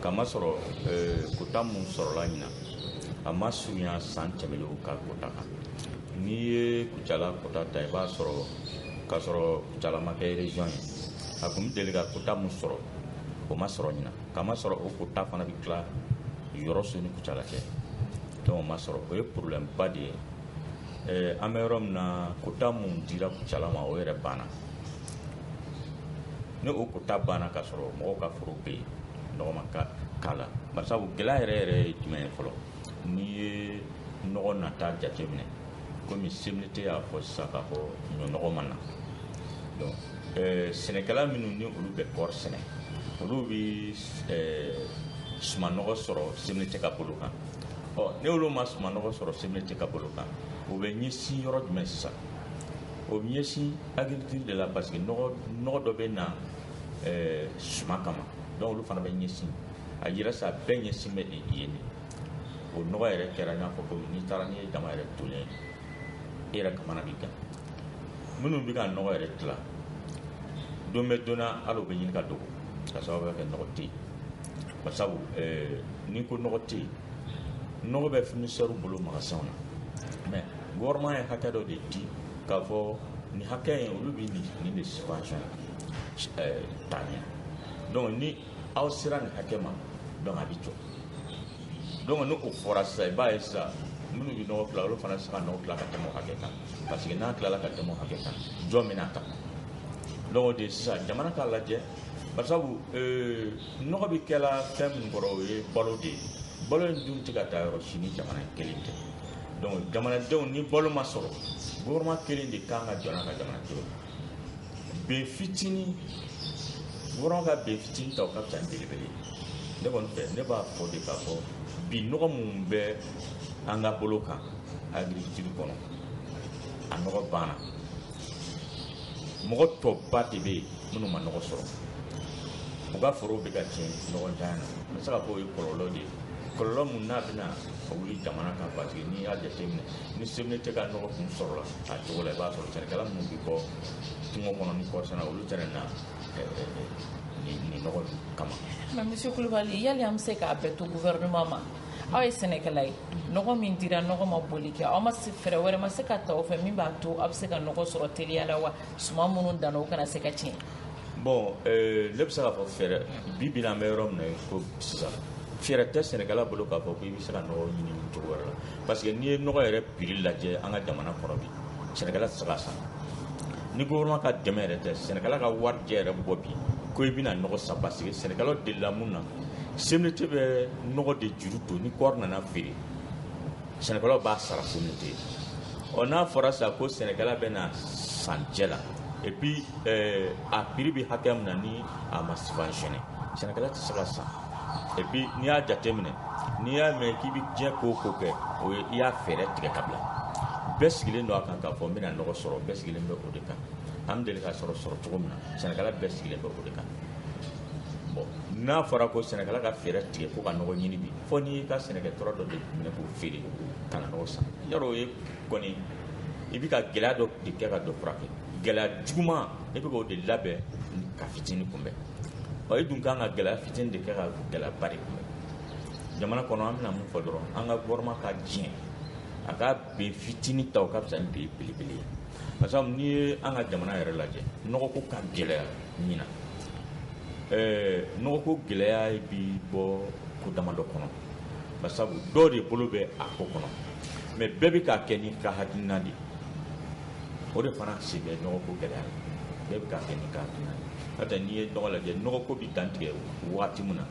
k'a masɔrɔ kota mun sɔrɔla ɲinan a ma surunya san tɛmɛnlenw ka kota kan n'i ye kucala kota ta i b'a sɔrɔ k'a sɔrɔ kucala ma kɛ région ye a tun bɛ deli ka kota mun sɔrɔ o ma sɔrɔ ɲinan k'a masɔrɔ o kota fana bɛ tila yɔrɔso ni kucala cɛ donc o ma sɔrɔ o ye problème ba de ye eh, an bɛ yɔrɔ min na kota mun dira kucala ma o yɛrɛ banna ni o kota banna k'a sɔrɔ mɔgɔw ka foro bɛ yen nɔgɔ ma k'a la barisabu gɛlɛya yɛrɛ yɛrɛ ye jumɛn ye fɔlɔ n'i ye nɔgɔ nata jateminɛ komi CMDT y'a fɔ sisan k'a fɔ ɲɔnɔgɔ ma na donc eh, sɛnɛkɛla minnu ni olu bɛ kɔɔri sɛnɛ olu bɛ eh, sumanɔgɔ sɔrɔ CMDT ka bolo kan ni olu ma sumanɔgɔ sɔrɔ CMDT ka bolo kan o bɛ ɲɛsin yɔrɔ jumɛn sisan o bɛ ɲɛsin agriculture de la parce que nɔgɔ dɔ bɛ na ɛɛ suma kama donc olu fana bɛ ɲɛsin a yira sa bɛɛ ɲɛsin bɛ yen de o nɔgɔ yɛrɛ kɛra i n'a fɔ ko n'i taara n'i ye jama yɛrɛ tonnen ye e yɛrɛ kamana bɛ gan minnu bɛ ka nɔgɔ yɛrɛ tila don bɛ don na hali u bɛ ɲini ka dogo ka sababu kɛ nɔgɔ tɛ yen basabu ɛɛ n'i ko nɔgɔ tɛ yen nɔgɔ bɛ fournisseurs bolo magasinw na mais gouvernement ye hakɛ dɔ de di k'a fɔ nin hakɛ in olu bɛ nin nin de subventionner ta ɲɛ donc ni aw sera nin hakɛ ma donc a bɛ jɔ donc ni o fɔra sisan i b'a ye sisan minnu bɛ nɔgɔ tila olu fana tɛ se ka nɔgɔ tila ka tɛmɛ o hakɛ kan parce que n'a tilala ka tɛmɛ o hakɛ kan jɔn bɛn'a ta donc o de ye sisan jamana k'a lajɛ barisabu euh, nɔgɔ bɛ kɛla fɛn min kɔrɔ o ye balo de ye balo in dun tɛ ka taa yɔrɔ si ni jamana in kelen tɛ donc jamanadenw ni balo ma sɔrɔ gouvernement kelen de kan ka jɔ n'a ka jamanadenw bin fitinin gouvernement ka bin fitinin ta o ka fisa ni belebele ye ne kɔni fɛ ne b'a fɔ de k'a fɔ bi nɔgɔ mun bɛ an ka bolo kan agriculture kɔnɔ a nɔgɔ banna mɔgɔ tɔba de bɛ yen minnu ma nɔgɔ sɔrɔ u ka forow bɛ ka tiɲɛ nɔgɔ ntanya na n bɛ se k'a fɔ o ye kɔlɔlɔ de ye kɔlɔlɔ mun n'a bɛna wuli jamana kan parce que n'i y'a jateminɛ ni CMDT ka nɔgɔ kun sɔrɔla a cogo la i b'a sɔrɔ sɛnɛkɛla minnu bɛ bɔ kungo kɔnɔ ni kɔɔri sɛnɛ olu tɛna na nin nɔgɔ kama. mais monsieur kulubali yali an bɛ se k'a bɛɛ to gouvernement ma aw ye sɛnɛkɛla ye nɔgɔ min dira nɔgɔ ma bɔli kɛ aw ma fɛɛrɛ wɛrɛ ma se ka ta o fɛ min b'a to aw bɛ se ka nɔgɔ sɔrɔ teliya la wa suman minnu danna o kana se ka tiɲɛ. Bon ne bɛ se k'a fɔ fɛɛrɛ bi bi in na an bɛ yɔrɔ min na ko sisan fɛɛrɛ tɛ sɛnɛkɛla bolo k'a fɔ ko i bɛ se ka nɔgɔ ɲini cogo wɛrɛ la parce que n'i ye nɔgɔ yɛrɛ prix lajɛ an ka jamana kɔnɔ bi sɛnɛkɛla tɛ se k'a san ni gouvernement ka dɛmɛ yɛrɛ tɛ sɛnɛkɛla ka warijɛ yɛrɛ bɔ bi ko i bɛna nɔgɔ san parce que sɛnɛkɛlaw delila mun na CMDT bɛ nɔgɔ de juru don ni kɔɔri nana feere sɛnɛkɛlaw b'a sara CMDT ɔ n'a fɔra sa ko sɛnɛkɛla bɛn'a san cɛ la et puis euh, a prix bɛ hakɛ min na ni a ma subventionné sɛnɛkɛla tɛ se k'a san et puis n'i y'a jateminɛ n'i y'a mɛn k'i bɛ diɲɛ ko o ko kɛ o ye i y'a fɛɛrɛ tigɛ ka bila bɛɛ sigilen don a kan k'a fɔ n bɛna nɔgɔ sɔrɔ bɛɛ sigilen bɛ o de kan an bɛ deli ka sɔrɔ sɔrɔ cogo min na sɛnɛkɛla bɛɛ sigilen bɛ o de kan bon n'a fɔra ko sɛnɛkɛla ka fɛɛrɛ tigɛ ko ka nɔgɔ ɲini bi fo n'i y'i ka sɛnɛkɛ tura dɔ de minɛ k'o feere ka na nɔgɔ san yɔrɔ o ye kɔni i bɛ ka gɛlɛya dɔ de kɛ ka dɔ furakɛ gɛlɛya juguman i bɛ k'o de labɛn ka fitini kunbɛn ɔ i dun kan ka gɛlɛya fitini de kɛ ka gɛlɛyaba de kunbɛn jamana kɔnɔ an bɛna mun fɔ dɔrɔn an ka gouvernement ka diɲɛ a ka bin fitini ta o ka fisa ni bin belebele ye parce que n'i ye an ka jamana yɛrɛ lajɛ nɔgɔko ka gɛlɛya ɲinan eh, nɔgɔko gɛlɛya bi bɔ ko damadɔ kɔnɔ basabu dɔw de bolo bɛ a ko kɔnɔ mais bɛɛ bɛ k'a kɛ n'i ka hakilina de o de fana sen bɛ nɔgɔko gɛlɛya bɛɛ bɛ k'a kɛ n'i ka hakilina de n'o tɛ n'i ye nɔgɔ lajɛ nɔgɔko bɛ dantigɛ waati min na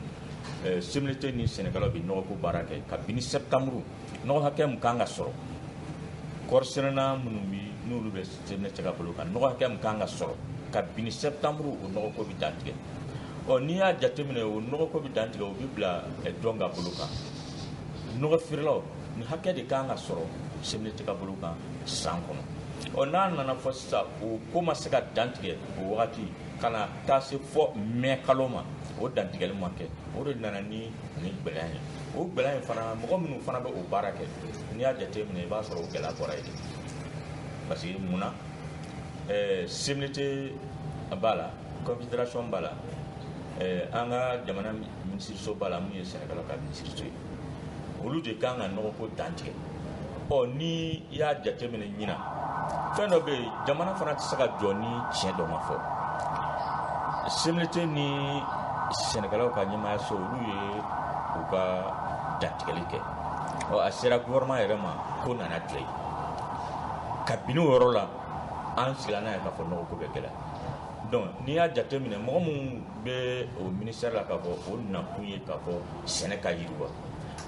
eh, CMDT ni sɛnɛkɛlaw bɛ nɔgɔko baara kɛ kabini septembre nɔgɔ hakɛ min kan ka sɔrɔ kɔɔri sɛnɛna minnu bi n'olu bɛ CMDT ka bolo kan nɔgɔ hakɛ min kan ka sɔrɔ kabini septembre o nɔgɔko bɛ dantigɛ ɔ n'i y'a jateminɛ o nɔgɔko bɛ dantigɛ o bɛ bila jɔn ka bolo kan nɔgɔ feerelaw nin hakɛ de kan ka sɔrɔ CMDT ka bolo kan san kɔnɔ ɔ n'a nana fɔ sisan o ko ma se ka dantigɛ o wagati ka na taa se fɔ mɛ kalo ma o dantigɛli ma kɛ o de nana ni nin gɛlɛya ye o gɛlɛya in fana mɔgɔ minnu fana bɛ o baara kɛ n'i y'a jateminɛ i b'a sɔrɔ o gɛlɛya bɔra yen parce que mun na ɛɛ eh, CMDT b'a la confédération b'a la ɛɛ eh, an ka jamana minisiriso b'a la min ye sɛnɛkɛlaw ka minisiriso ye olu de kan ka nɔgɔko dantigɛ ɔ ni i y'a jateminɛ ɲina fɛn dɔ bɛ yen jamana fana tɛ se ka jɔ ni tiɲɛ dɔ ma fɔ CMDT ni sɛnɛkɛlaw ka ɲɛmaayaso olu ye u ka dantigɛli kɛ ɔ a sera gouvernement yɛrɛ ma ko nana tile ye kabini o yɔrɔ la an sigira n'a ye k'a fɔ nɔgɔko bɛ gɛlɛya donc n'i y'a jateminɛ mɔgɔ minnu bɛ o ministère la k'a fɔ o nakun ye k'a fɔ sɛnɛ ka yiriwa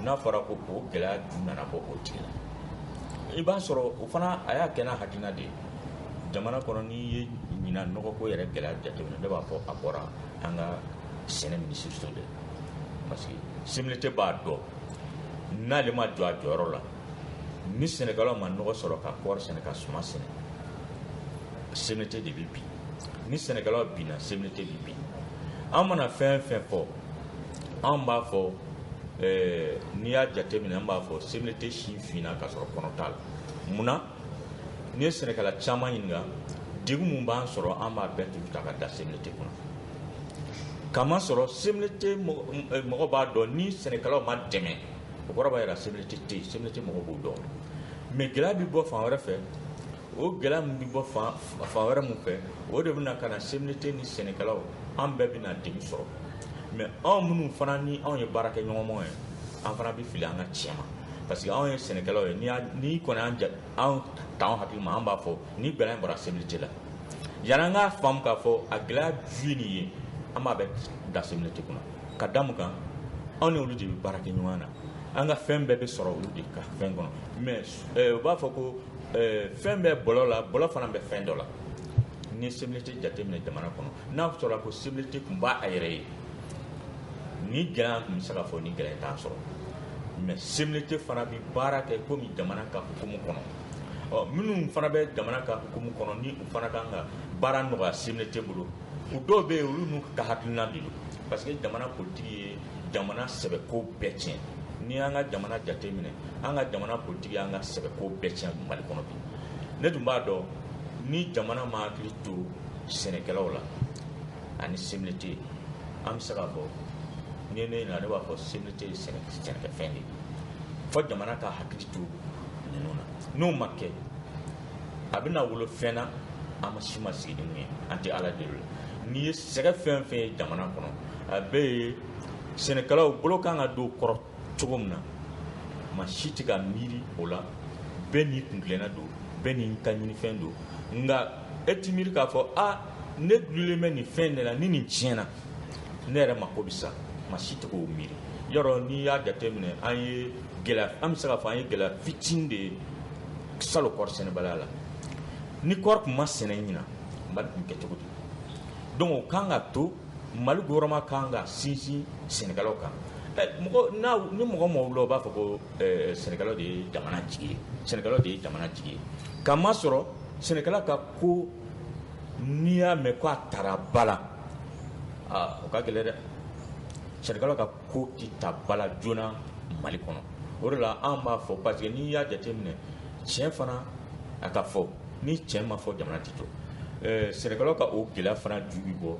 n'a fɔra ko o gɛlɛya ju nana bɔ o tigi la i b'a sɔrɔ o fana a y'a kɛ n'a hakilina de ye jamana kɔnɔ n'i ye ɲina nɔgɔko yɛrɛ gɛlɛya jateminɛ ne b'a fɔ a bɔra an ka sɛnɛ minisiriso de parce que CMDT b'a dɔn n'ale ma jɔ a jɔyɔrɔ la ni sɛnɛkɛlaw ma nɔgɔ sɔrɔ ka kɔɔri sɛnɛ ka suma sɛnɛ CMDT de bɛ bin ni sɛnɛkɛlaw binna CMDT bɛ bin an mana fɛn fɛn fɔ an b'a fɔ eh, n'i y'a jateminɛ an b'a fɔ CMDT sin finna ka sɔrɔ kɔnɔ t'a la munna n'i ye sɛnɛkɛla caman ɲininka degun mun b'an sɔrɔ an b'a bɛɛ tugu ta ka da CMDT kunna kamasɔrɔ CMDT mɔgɔ eh, b'a dɔn ni sɛnɛkɛlaw ma dɛmɛ o kɔrɔ b'a jira CMDT tɛ yen CMDT mɔgɔ b'o dɔn mais gɛlɛya bɛ bɔ fan wɛrɛ fɛ o gɛlɛya min bɛ bɔ fan wɛrɛ min fɛ o de bɛna ka na CMDT ni sɛnɛkɛlaw an bɛɛ bɛna degun sɔrɔ mais anw minnu fana ni anw ye baarakɛɲɔgɔnmaw ye an fana bɛ fili an ka tiɲɛ ma parce que anw ye sɛnɛkɛlaw ye n'i kɔni an ja anw t'anw hakili ma an b'a fɔ ni gɛlɛya in bɔra CMDT la yanni an k'a faamu k'a fɔ a gɛlɛya ju ye nin ye an b'a bɛɛ da CMDT kunna ka da mun kan anw ni olu de bɛ baara kɛ ɲɔgɔn na an ka fɛn bɛɛ bɛ sɔrɔ olu de ka fɛn kɔnɔ mais eh, u b'a fɔ ko eh, fɛn bɛ bɔlɔ la bɔlɔ fana bɛ fɛn dɔ la ni CMDT jateminɛ jamana kɔnɔ n'a sɔrɔ ko CMDT tun b'a a yɛrɛ ye ni gɛlɛya tun bɛ se ka fɔ ni gɛlɛya t'a sɔrɔ mais CMDT fana bɛ baara kɛ komi jamana ka hukumu kɔnɔ ɔ minnu fana bɛ jamana ka hukumu kɔnɔ ni u fana kan ka baara nɔgɔya CMDT bolo o dɔw bɛ yen olu n'u ka hakilina de don parce que jamana politigi ye jamana sɛbɛko bɛɛ tiɲɛ n'i y'an ka jamana jate minɛ an ka jamana politigi y'an ka sɛbɛko bɛɛ tiɲɛ mali kɔnɔ bi ne tun b'a dɔn ni jamana ma hakili to sɛnɛkɛlaw la ani CMDT an bɛ se k'a fɔ n'i ye ne ɲininka ne b'a fɔ CMDT ye sɛnɛkɛfɛn de ye fo jamana ka hakili to ninnu na n'o ma kɛ a bɛna wolo fɛn na an ma si ma sigi ni min ye an tɛ ala deli la n'i ye sɛgɛn fɛn fɛn ye jamana kɔnɔ a bɛɛ ye sɛnɛkɛlaw bolo kan ka don kɔrɔ cogo min na ma si tɛ ka miiri o la bɛɛ n'i kuntilenna don bɛɛ n'i ta ɲinifɛn don nka e ti miiri k'a fɔ a ne dulonnen bɛ nin fɛn de la ni nin tiɲɛna ne yɛrɛ mako bɛ sa ma si tɛ k'o miiri yɔrɔ n'i y'a jateminɛ an bɛ se k'a fɔ an ye gɛlɛya fitinin de ye salo kɔɔri sɛnɛbaliya la ni kɔɔri tun ma sɛnɛ ɲinan mali tun kɛ cogo di donc o kan ka to mali gouvernement kan ka sinsin sɛnɛkɛlaw kan eh, mɔgɔ n'a ni mɔgɔ mɔgɔ wulila o b'a fɔ ko eh, sɛnɛkɛlaw de ye jamana jigi ye sɛnɛkɛlaw de ye jamana jigi ye k'a masɔrɔ sɛnɛkɛla ka ko n'i y'a mɛn ko a tara ba la aa o ka gɛlɛn dɛ sɛnɛkɛlaw ka ko tɛ ta ba la joona mali kɔnɔ o de la an b'a fɔ parce que n'i y'a jateminɛ tiɲɛ fana a ka fɔ ni tiɲɛ ma fɔ jamana tɛ jɔ eh, sɛnɛkɛlaw ka o gɛlɛya fana ju bi bɔ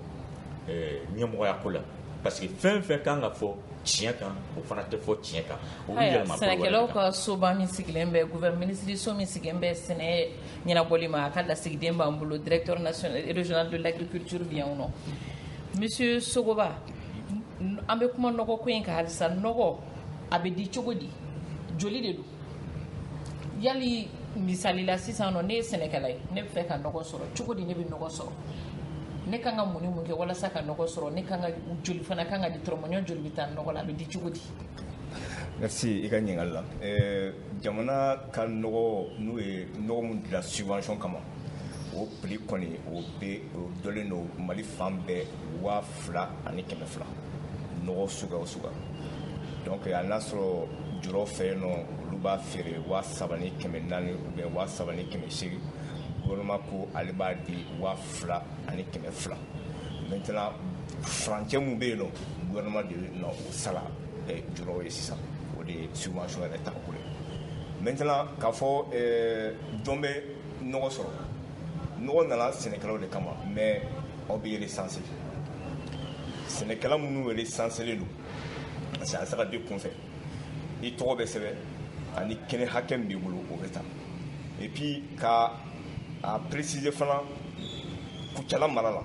eh, ɲɛmɔgɔya ko la parce que fɛn fɛn kan ka fɔ tiɲɛ kan o fana tɛ fɔ tiɲɛ kan o bɛ yɛlɛma sɛnɛkɛlaw ka soba min sigilen bɛ gouvernement minisiriso min sigilen bɛ sɛnɛ ɲɛnabɔli ma a ka lasigiden b'an bolo directeur national régional de l'agriculture bɛ yan nɔ monsieur sogoba an bɛ kuma nɔgɔ ko in kan halisa nɔgɔ a bɛ di cogo di joli de don yali misali la sisan nɔ ne ye sɛnɛkɛla ye ne b'a fɛ ka nɔgɔ sɔrɔ cogo di ne bɛ nɔgɔ sɔrɔ ne kan ka mun ni mun kɛ walasa ka nɔgɔ sɔrɔ ne kan ka joli fana kan ka di dɔrɔmɛ joli bɛ taa nɔgɔ la a bɛ di cogo di merci i ka ɲininkali la eh, jamana ka nɔgɔ n'o ye nɔgɔ min dila subvention kama o prix kɔni o bɛ o dɔlen don mali fan bɛɛ waa fila ani kɛmɛ fila nɔgɔ suguya o suguya donc hali n'a sɔrɔ julaw fɛ yen nɔ olu b'a feere waa saba ni kɛmɛ naani ou bien waa saba ni kɛmɛ seegin gɔvɛrɛnman ko ale b'a di waa fila ani kɛmɛ fila maintenant furancɛ min bɛ yen nɔ gɔvɛrɛnman de na o sara julaw ye sisan o de ye subvention yɛrɛ tako ye maintenant k'a fɔ jɔn bɛ nɔgɔ sɔrɔ nɔgɔ nana sɛnɛkɛlaw de kama mais aw bɛ resanse sɛnɛkɛla minnu resanselen don parce que a se ka di kunfɛ i tɔgɔ bɛ sɛbɛn ani kɛnɛ hakɛ min b'i bolo o bɛ ta et puis ka a préciser fana kucala mara la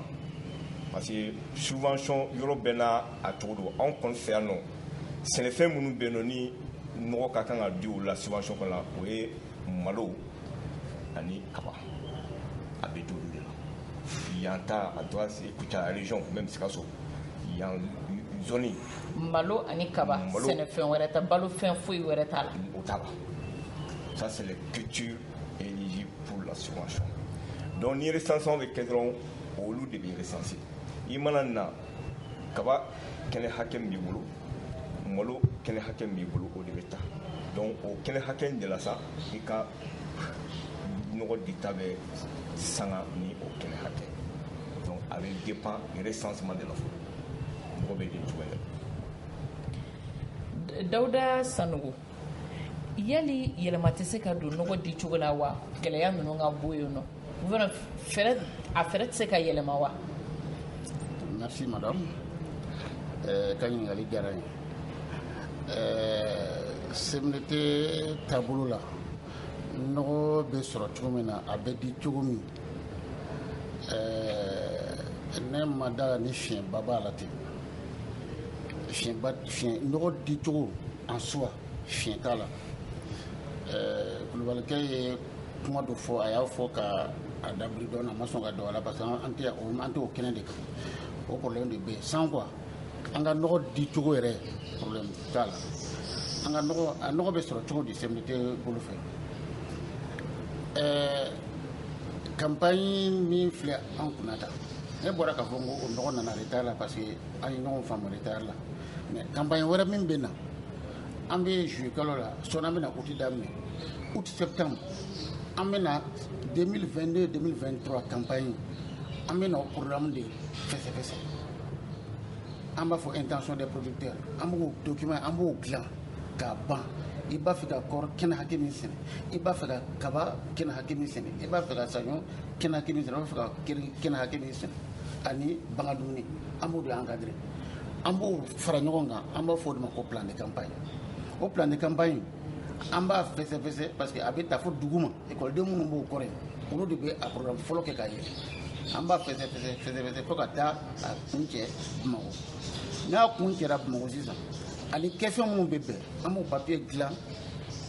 parce que subvention yɔrɔ bɛɛ n'a cogo don anw kɔni fɛ yan nɔ sɛnɛfɛn minnu bɛ yen nɔ ni nɔgɔ ka kan ka di o la subvention kɔnɔ o ye malo ani kaba a bɛ di olu de la yan ta a doit se Kucala région même Sikaso yan zone malo ani kaba malo, sɛnɛfɛn wɛrɛ tɛ balo fɛn foyi wɛrɛ t'a la o t'a la ça c'est les cultures éligibles pour la subvention donc ni recensement bɛ kɛ dɔrɔn olu de bɛ recenser i mana na kaba kɛnɛ hakɛ min b'i bolo malo kɛnɛ hakɛ min b'i bolo o de bɛ ta donc o kɛnɛ hakɛ in de la sa i ka nɔgɔ dita bɛ sanga ni o kɛnɛ hakɛ donc a bɛ dépend recensement de la fɔlɔ nɔgɔ bɛ di cogoya la dawuda sanogo yali yɛlɛma tɛ se ka don nɔgɔ di cogo la wa gɛlɛya ninnu ka bɔ yen nɔ a fɛɛrɛ tɛ se ka yɛlɛma wa merci madame eh, ka ɲininkali diyara n ye CMDT eh, taabolo la nɔgɔ bɛ sɔrɔ cogo min na a bɛ di cogo min eh, ne ma da la ni fiɲɛba b'a la ten fiɲɛba fiɲɛ nɔgɔ di cogo en soi fiɲɛ t'a la ɛɛ kulubalikɛ ye kuma dɔ fɔ a y'a fɔ ka a dabiri dɔɔnin a ma sɔn ka don a la parce que an tɛ an t'o kɛnɛ de kan o problème de bɛ yen sans quoi an ka nɔgɔ di cogo yɛrɛ problème t'a la an ka nɔgɔ a nɔgɔ bɛ sɔrɔ cogo di CMDT bolo fɛ ɛɛ campagne min filɛ an kunna tan ne bɔra k'a fɔ n ko o nɔgɔ nana retard la parce que an ye ɲɔgɔn faamu retard la mais campagne wɛrɛ min bɛ na an bɛ juillet kalo la sɔɔni an bɛna août daminɛ août septembre an bɛna 2022-2023 campagne an bɛ na programme de fɛsɛfɛsɛ an b'a fɔ intention des producteurs an b'o document an b'o dilan k'a ban i b'a fɛ ka kɔɔri kɛnɛ hakɛ min sɛnɛ i b'a fɛ ka kaba kɛnɛ hakɛ min sɛnɛ i b'a fɛ ka saɲɔ kɛnɛ hakɛ min sɛnɛ i b'a fɛ ka kɛnɛ hakɛ min sɛnɛ ani bagan dumuni an b'o de encadrer an b'o fara ɲɔgɔn kan an b'a fɔ o de ma ko plan de campagne o plan de campagne an b'a fɛsɛfɛsɛ parce que a bɛ ta fo duguma ekɔliden minnu b'o kɔrɔ yen olu de bɛ a programme fɔlɔ kɛ k'a yɛlɛ an b'a fɛsɛfɛsɛ fɛsɛfɛsɛ fo ka taa a kuncɛ bamakɔ n'a kuncɛra bamakɔ sisan a ni kɛfɛn minnu bɛ bɛn an b'o papiye dilan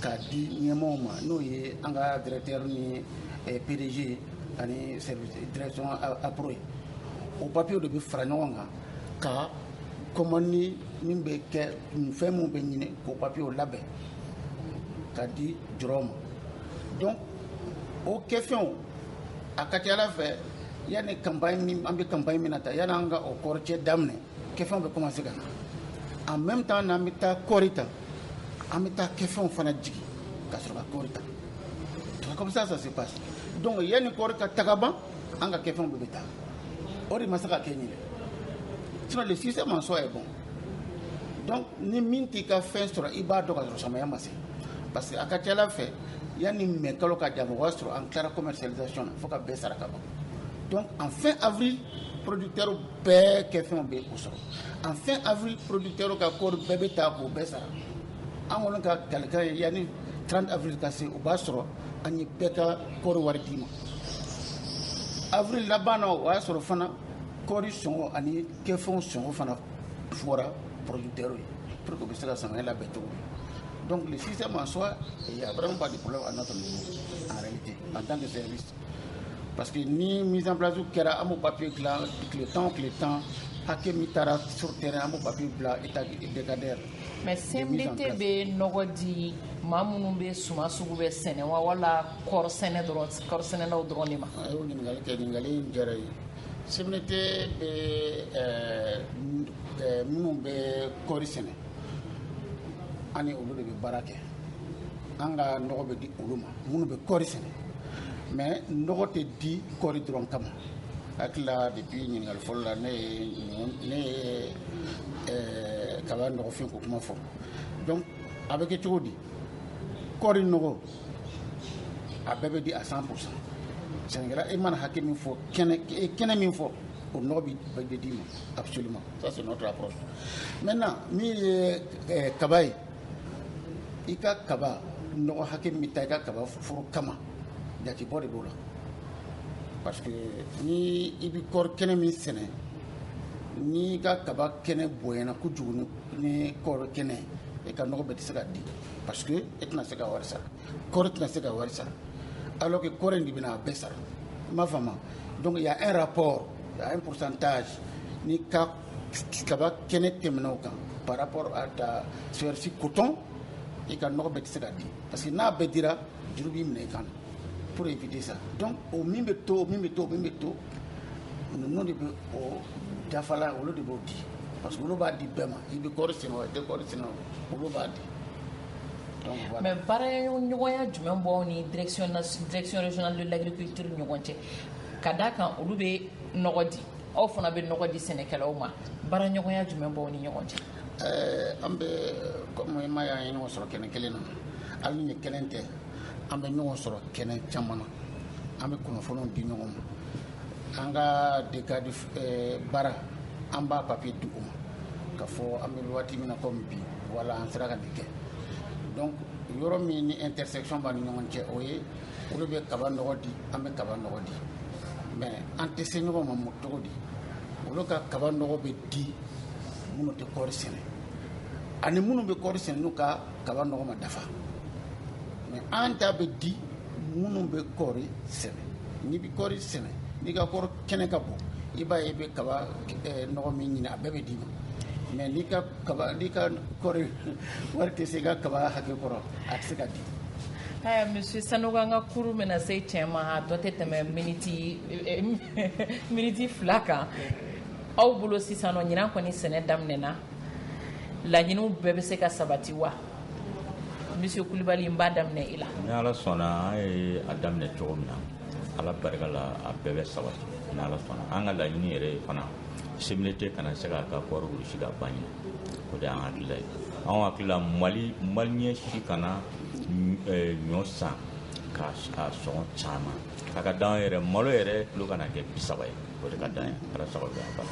k'a di ɲɛmɔgɔw ma n'o ye an ka directeur ni eh, pdg ani service direction appro ye o papiyew de bɛ fara ɲɔgɔn kan ka commande min bɛ kɛ fɛn minnu bɛ ɲini k'o papiyew labɛn k'a di jɔrɔw ma donc o kɛfɛnw a ka c'a la fɛ yanni campagne min an bɛ campagne min na ta yanni an ka o kɔɔri cɛ daminɛ kɛfɛnw bɛ commencer ka na en même temps n'an bɛ taa kɔɔri ta an bɛ taa kɛfɛnw fana jigin ka sɔrɔ ka kɔɔri ta comme ça ça se passe donc yanni kɔɔri ka ta ka ban an ka kɛfɛnw bɛɛ bɛ taa o de ma se ka kɛ ɲinɛ sinon le système en soi est bon donc ni min t'i ka fɛn sɔrɔ i b'a dɔn ka sɔrɔ samaya ma se parce que a ka c'a la fɛ yanni mɛ kalo ka jan o b'a sɔrɔ an tilara commercialisation na fo ka bɛɛ sara ka ban donc en fin avril producteurs bɛɛ kɛfɛnw bɛ u sɔrɔ en fin avril producteurs ka kɔɔri bɛɛ bɛ ta k'o bɛɛ sara an kɔni ka kalikan ye yanni 30 avril ka se o b'a sɔrɔ an ye bɛɛ ka kɔɔri wari d'i ma avril laban na o y'a sɔrɔ fana kɔɔri sɔngɔ ani kɛfɛnw sɔngɔ fana fɔra producteurs ye pour que u bɛ se ka samiya labɛn cogo min donc le système en soi il y a vraiment pas de problème à notre niveau en réalité en tant que service Parce que ni mise en place kɛra an b'o papier dilan tile tan o tile tan hakɛ min taara sur terrain an b'o papier bila état décadaire mais CMDT bɛ nɔgɔ di maa minnu bɛ suman sugu bɛɛ sɛnɛ wa wala kɔɔri sɛnɛ dɔrɔn kɔɔri sɛnɛlaw dɔrɔn de ma. a y'o ɲininkali kɛ ɲininkali in diyara n ye CMDT bɛ ɛɛ minnu bɛ kɔɔri sɛnɛ an ni olu de bɛ baara kɛ an ka nɔgɔ bɛ di olu ma minnu bɛ kɔɔri sɛnɛ. mais nɔgɔ tɛ di kɔɔri dɔrɔn kama n hakili la depuis ɲininkali fɔlɔ la ne ye ne ye eh, kaba nɔgɔfin ko kuma fɔ donc a bɛ kɛ cogo di kɔɔri nɔgɔ a bɛɛ bɛ di à 100 pourcent sɛnɛkɛla e mana hakɛ min fɔ kɛnɛ e kɛnɛ min fɔ o nɔgɔ bi bɛɛ bɛ d'i ma absolument ça c'est notre approche maintenant min ye eh, kaba ye i ka kaba nɔgɔ hakɛ min ta i ka kaba foro kama jatebɔ de b'o la parce que ni i bɛ kɔɔri kɛnɛ min sɛnɛ n'i ka kaba kɛnɛ bonyana kojugu ni kɔɔri kɛnɛ i ka nɔgɔ bɛɛ tɛ se ka di parce que e tɛna se ka wari sara kɔɔri tɛna se ka wari sara alors que kɔɔri in de bɛna a bɛɛ sara i m'a faamu donc il y a un rapport il y a un pourcentage n'i ka kaba kɛnɛ tɛmɛna o kan par rapport à ta superficie coton i ka nɔgɔ bɛɛ tɛ se ka di parce que n'a bɛɛ dira juru b'i minɛ i kan pour éviter ça donc o min bɛ to o min bɛ to o min bɛ to ninnu de bɛ o dafala olu de b'o di parce que olu b'a di bɛɛ ma i bɛ kɔɔri sɛnɛ o i tɛ kɔɔri sɛnɛ o olu b'a di donc voilà. mais baaraɲɔgɔnya jumɛn b'aw ni direction direction régionale de l'agriculture ni ɲɔgɔn cɛ ka d'a kan olu bɛ nɔgɔ di aw fana bɛ nɔgɔ di sɛnɛkɛlaw ma baaraɲɔgɔnya jumɛn b'aw ni ɲɔgɔn cɛ eh, an bɛ kɔmi i m'a ye an ye ɲɔgɔn sɔrɔ kɛnɛ kelen na hali nin kelen tɛ an bɛ ɲɔgɔn sɔrɔ kɛnɛ caman na an bɛ kunnafoniw di ɲɔgɔn ma an ka dekadi eh, baara an b'a papiye di u ma ka fɔ an bɛ waati min na komi bi wala an sera ka nin kɛ donc yɔrɔ min ni intersection b'an ni ɲɔgɔn cɛ o ye olu bɛ kaba nɔgɔ di an bɛ kaba nɔgɔ di mɛ an tɛ se ɲɔgɔn ma mun cogo di olu ka kaba nɔgɔ bɛ di minnu tɛ kɔɔri sɛnɛ ani minnu bɛ kɔɔri sɛnɛ n'u ka kaba nɔgɔ ma dafa mɛ an ta bɛ di minnu bɛ kɔɔri sɛnɛ n'i bɛ kɔɔri sɛnɛ n'i ka kɔɔri kɛnɛ ka bon i b'a ye i bɛ kaba eh, nɔgɔ min ɲini a bɛɛ bɛ d'i ma mɛ n'i ka kaba n'i ka kɔɔri wari tɛ se i ka kaba hakɛ kɔrɔ a tɛ se ka di Ɛɛ monsieur Sanogo an ka kurun bɛna se cɛn ma a tɔ tɛ tɛmɛ miniti fila kan aw bolo sisan nɔ ɲinan kɔni sɛnɛ daminɛna laɲiniw bɛɛ bɛ se ka sabati wa monsieur Kulibali n b'a daminɛ i la. Ni Ala sɔnna an ye a daminɛ cogo min na Ala barika la a bɛɛ bɛ sabati ni Ala sɔnna an ka laɲini yɛrɛ ye fana CMDT kana se k'a ka kɔɔri wurusi ka ban ɲinan. o de y'an hakilila ye anw hakilila mali maliyɛn si kana eh, ɲɔ san k'a sɔngɔ caman a ka d'an yɛrɛ malo yɛrɛ kilo kana kɛ bi saba ye o de ka d'an ye ala sago bɛ an bala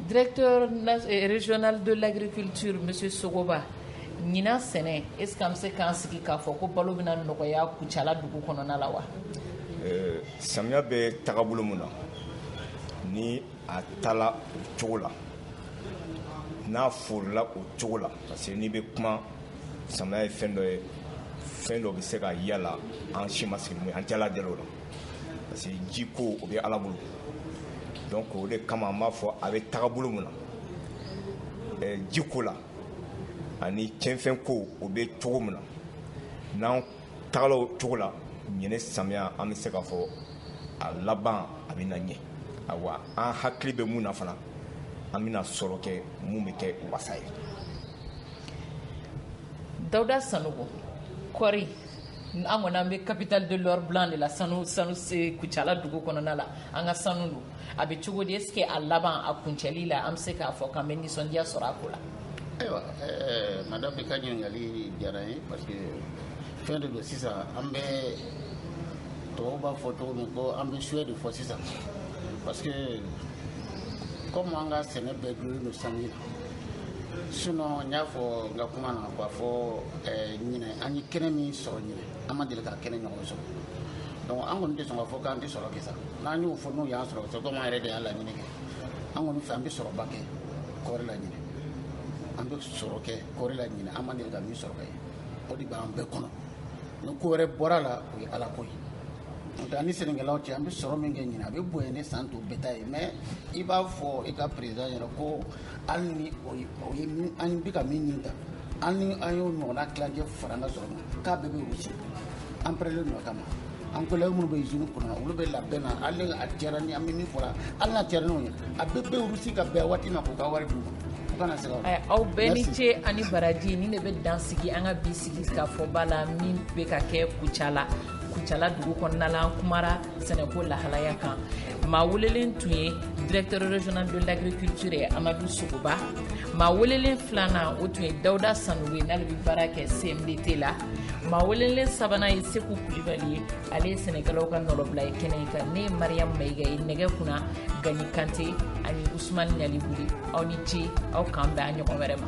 directeur eh, régional de l'agriculture monsieur sogoba ɲinan sɛnɛ est ce que an bɛ se k'an sigi k'a fɔ ko balo bɛna nɔgɔya kucala dugu kɔnɔna la wa eh, samiya bɛ tagabolo mun na ni a taala o cogo la n'a forila o cogo la parce que n'i bɛ kuma samaya ye fɛn dɔ ye fɛn dɔ bɛ se ka y'a la an si ma sigi an tɛ ala deli o la parce que ji ko o bɛ ala bolo donc o de kama an b'a fɔ a bɛ tagabolo mun na eh, ji ko la ani cɛnfɛn ko o bɛ cogo min na n'an tagala o cogo la ɲinɛ samiya an bɛ se k'a fɔ a laban a bɛna ɲɛ awa an hakili bɛ mun na fana an bɛna sɔrɔ kɛ mun bɛ kɛ wasa ye dawuda sanogo kɔɔri an kɔni an bɛ capitale de l'or blanc de la sanu sanu kucala dugu kɔnɔna la an ka sanu don a bɛ cogo di est-ce que a laban a kuncɛli la an bɛ se k'a fɔ k'an bɛ nisɔndiya sɔrɔ a ko la ayiwa eh, madame i ka ɲininkali diyara n ye parce que fɛn de don sisan an bɛ tɔw b'a fɔ cogo min ko an bɛ souhait de fɔ sisan parce que comme an ka sɛnɛ bɛɛ dulolen don sanji la sinon n y'a fɔ n ka kuma na k'a fɔ eh, ɲinɛ an ye kɛnɛ min sɔrɔ ɲinɛ an ma deli ka kɛnɛ ɲɔgɔn sɔrɔ donc an kɔni tɛ sɔn k'a fɔ k'an tɛ sɔrɔ kɛ sa n'an y'o fɔ n'o y'an sɔrɔ c'est comme an yɛrɛ de y'a laɲini kɛ an kɔni fɛ an bɛ sɔrɔba kɛ kɔɔri la ɲinɛ an bɛ sɔrɔ kɛ kɔɔri la ɲinɛ an ma deli ka min sɔrɔ kɛ o de b'an bɛɛ kɔnɔ ni ko wɛrɛ bɔra la o ye ala ko ye n'o tɛ an ni sɛnɛkɛlaw cɛ an bɛ sɔrɔ min kɛ ɲinɛ a bɛ bonya ni san tɔw bɛɛ ta ye mais i b'a fɔ i ka président ɲɛna ko hali ni o ye o ye min an bɛ ka min ɲini ta hali ni an y'o ɲɔgɔnna tilancɛ fara an ka sɔrɔ kan k'a bɛɛ bɛ wurusi an pɛrɛlen don o kama an collègues minnu bɛ izini kɔnɔ olu bɛ labɛn na hali a cayara ni an bɛ min fɔra hali n'a cayara n'o ye a bɛɛ bɛ wurusi ka bɛn waati ma k'u ka wari d'u ma u kana se ka wari aw bɛɛ ni ce ani baraji nin de bɛ dan sigi an ka bi sigi ka fɔba la min bɛ ka kɛ kucala kucala dugu kɔnɔna la an kumara sɛnɛko lahalaya kan maa welelen tun ye directeur régional de l'agriculture ye amadu sogoba maa welelen filanan o tun ye dawuda sanogo ye n'ale bɛ baara kɛ cmdt la maa welelen sabanan ye seku kulibali ye ale ye sɛnɛkɛlaw ka nɔrɔbila ye kɛnɛ in kan ne ye mariyamu mayiga ye nɛgɛ kunna gani kante ani usumani ɲalibuli aw ni ce aw k'an bɛn a ɲɔgɔn wɛrɛ ma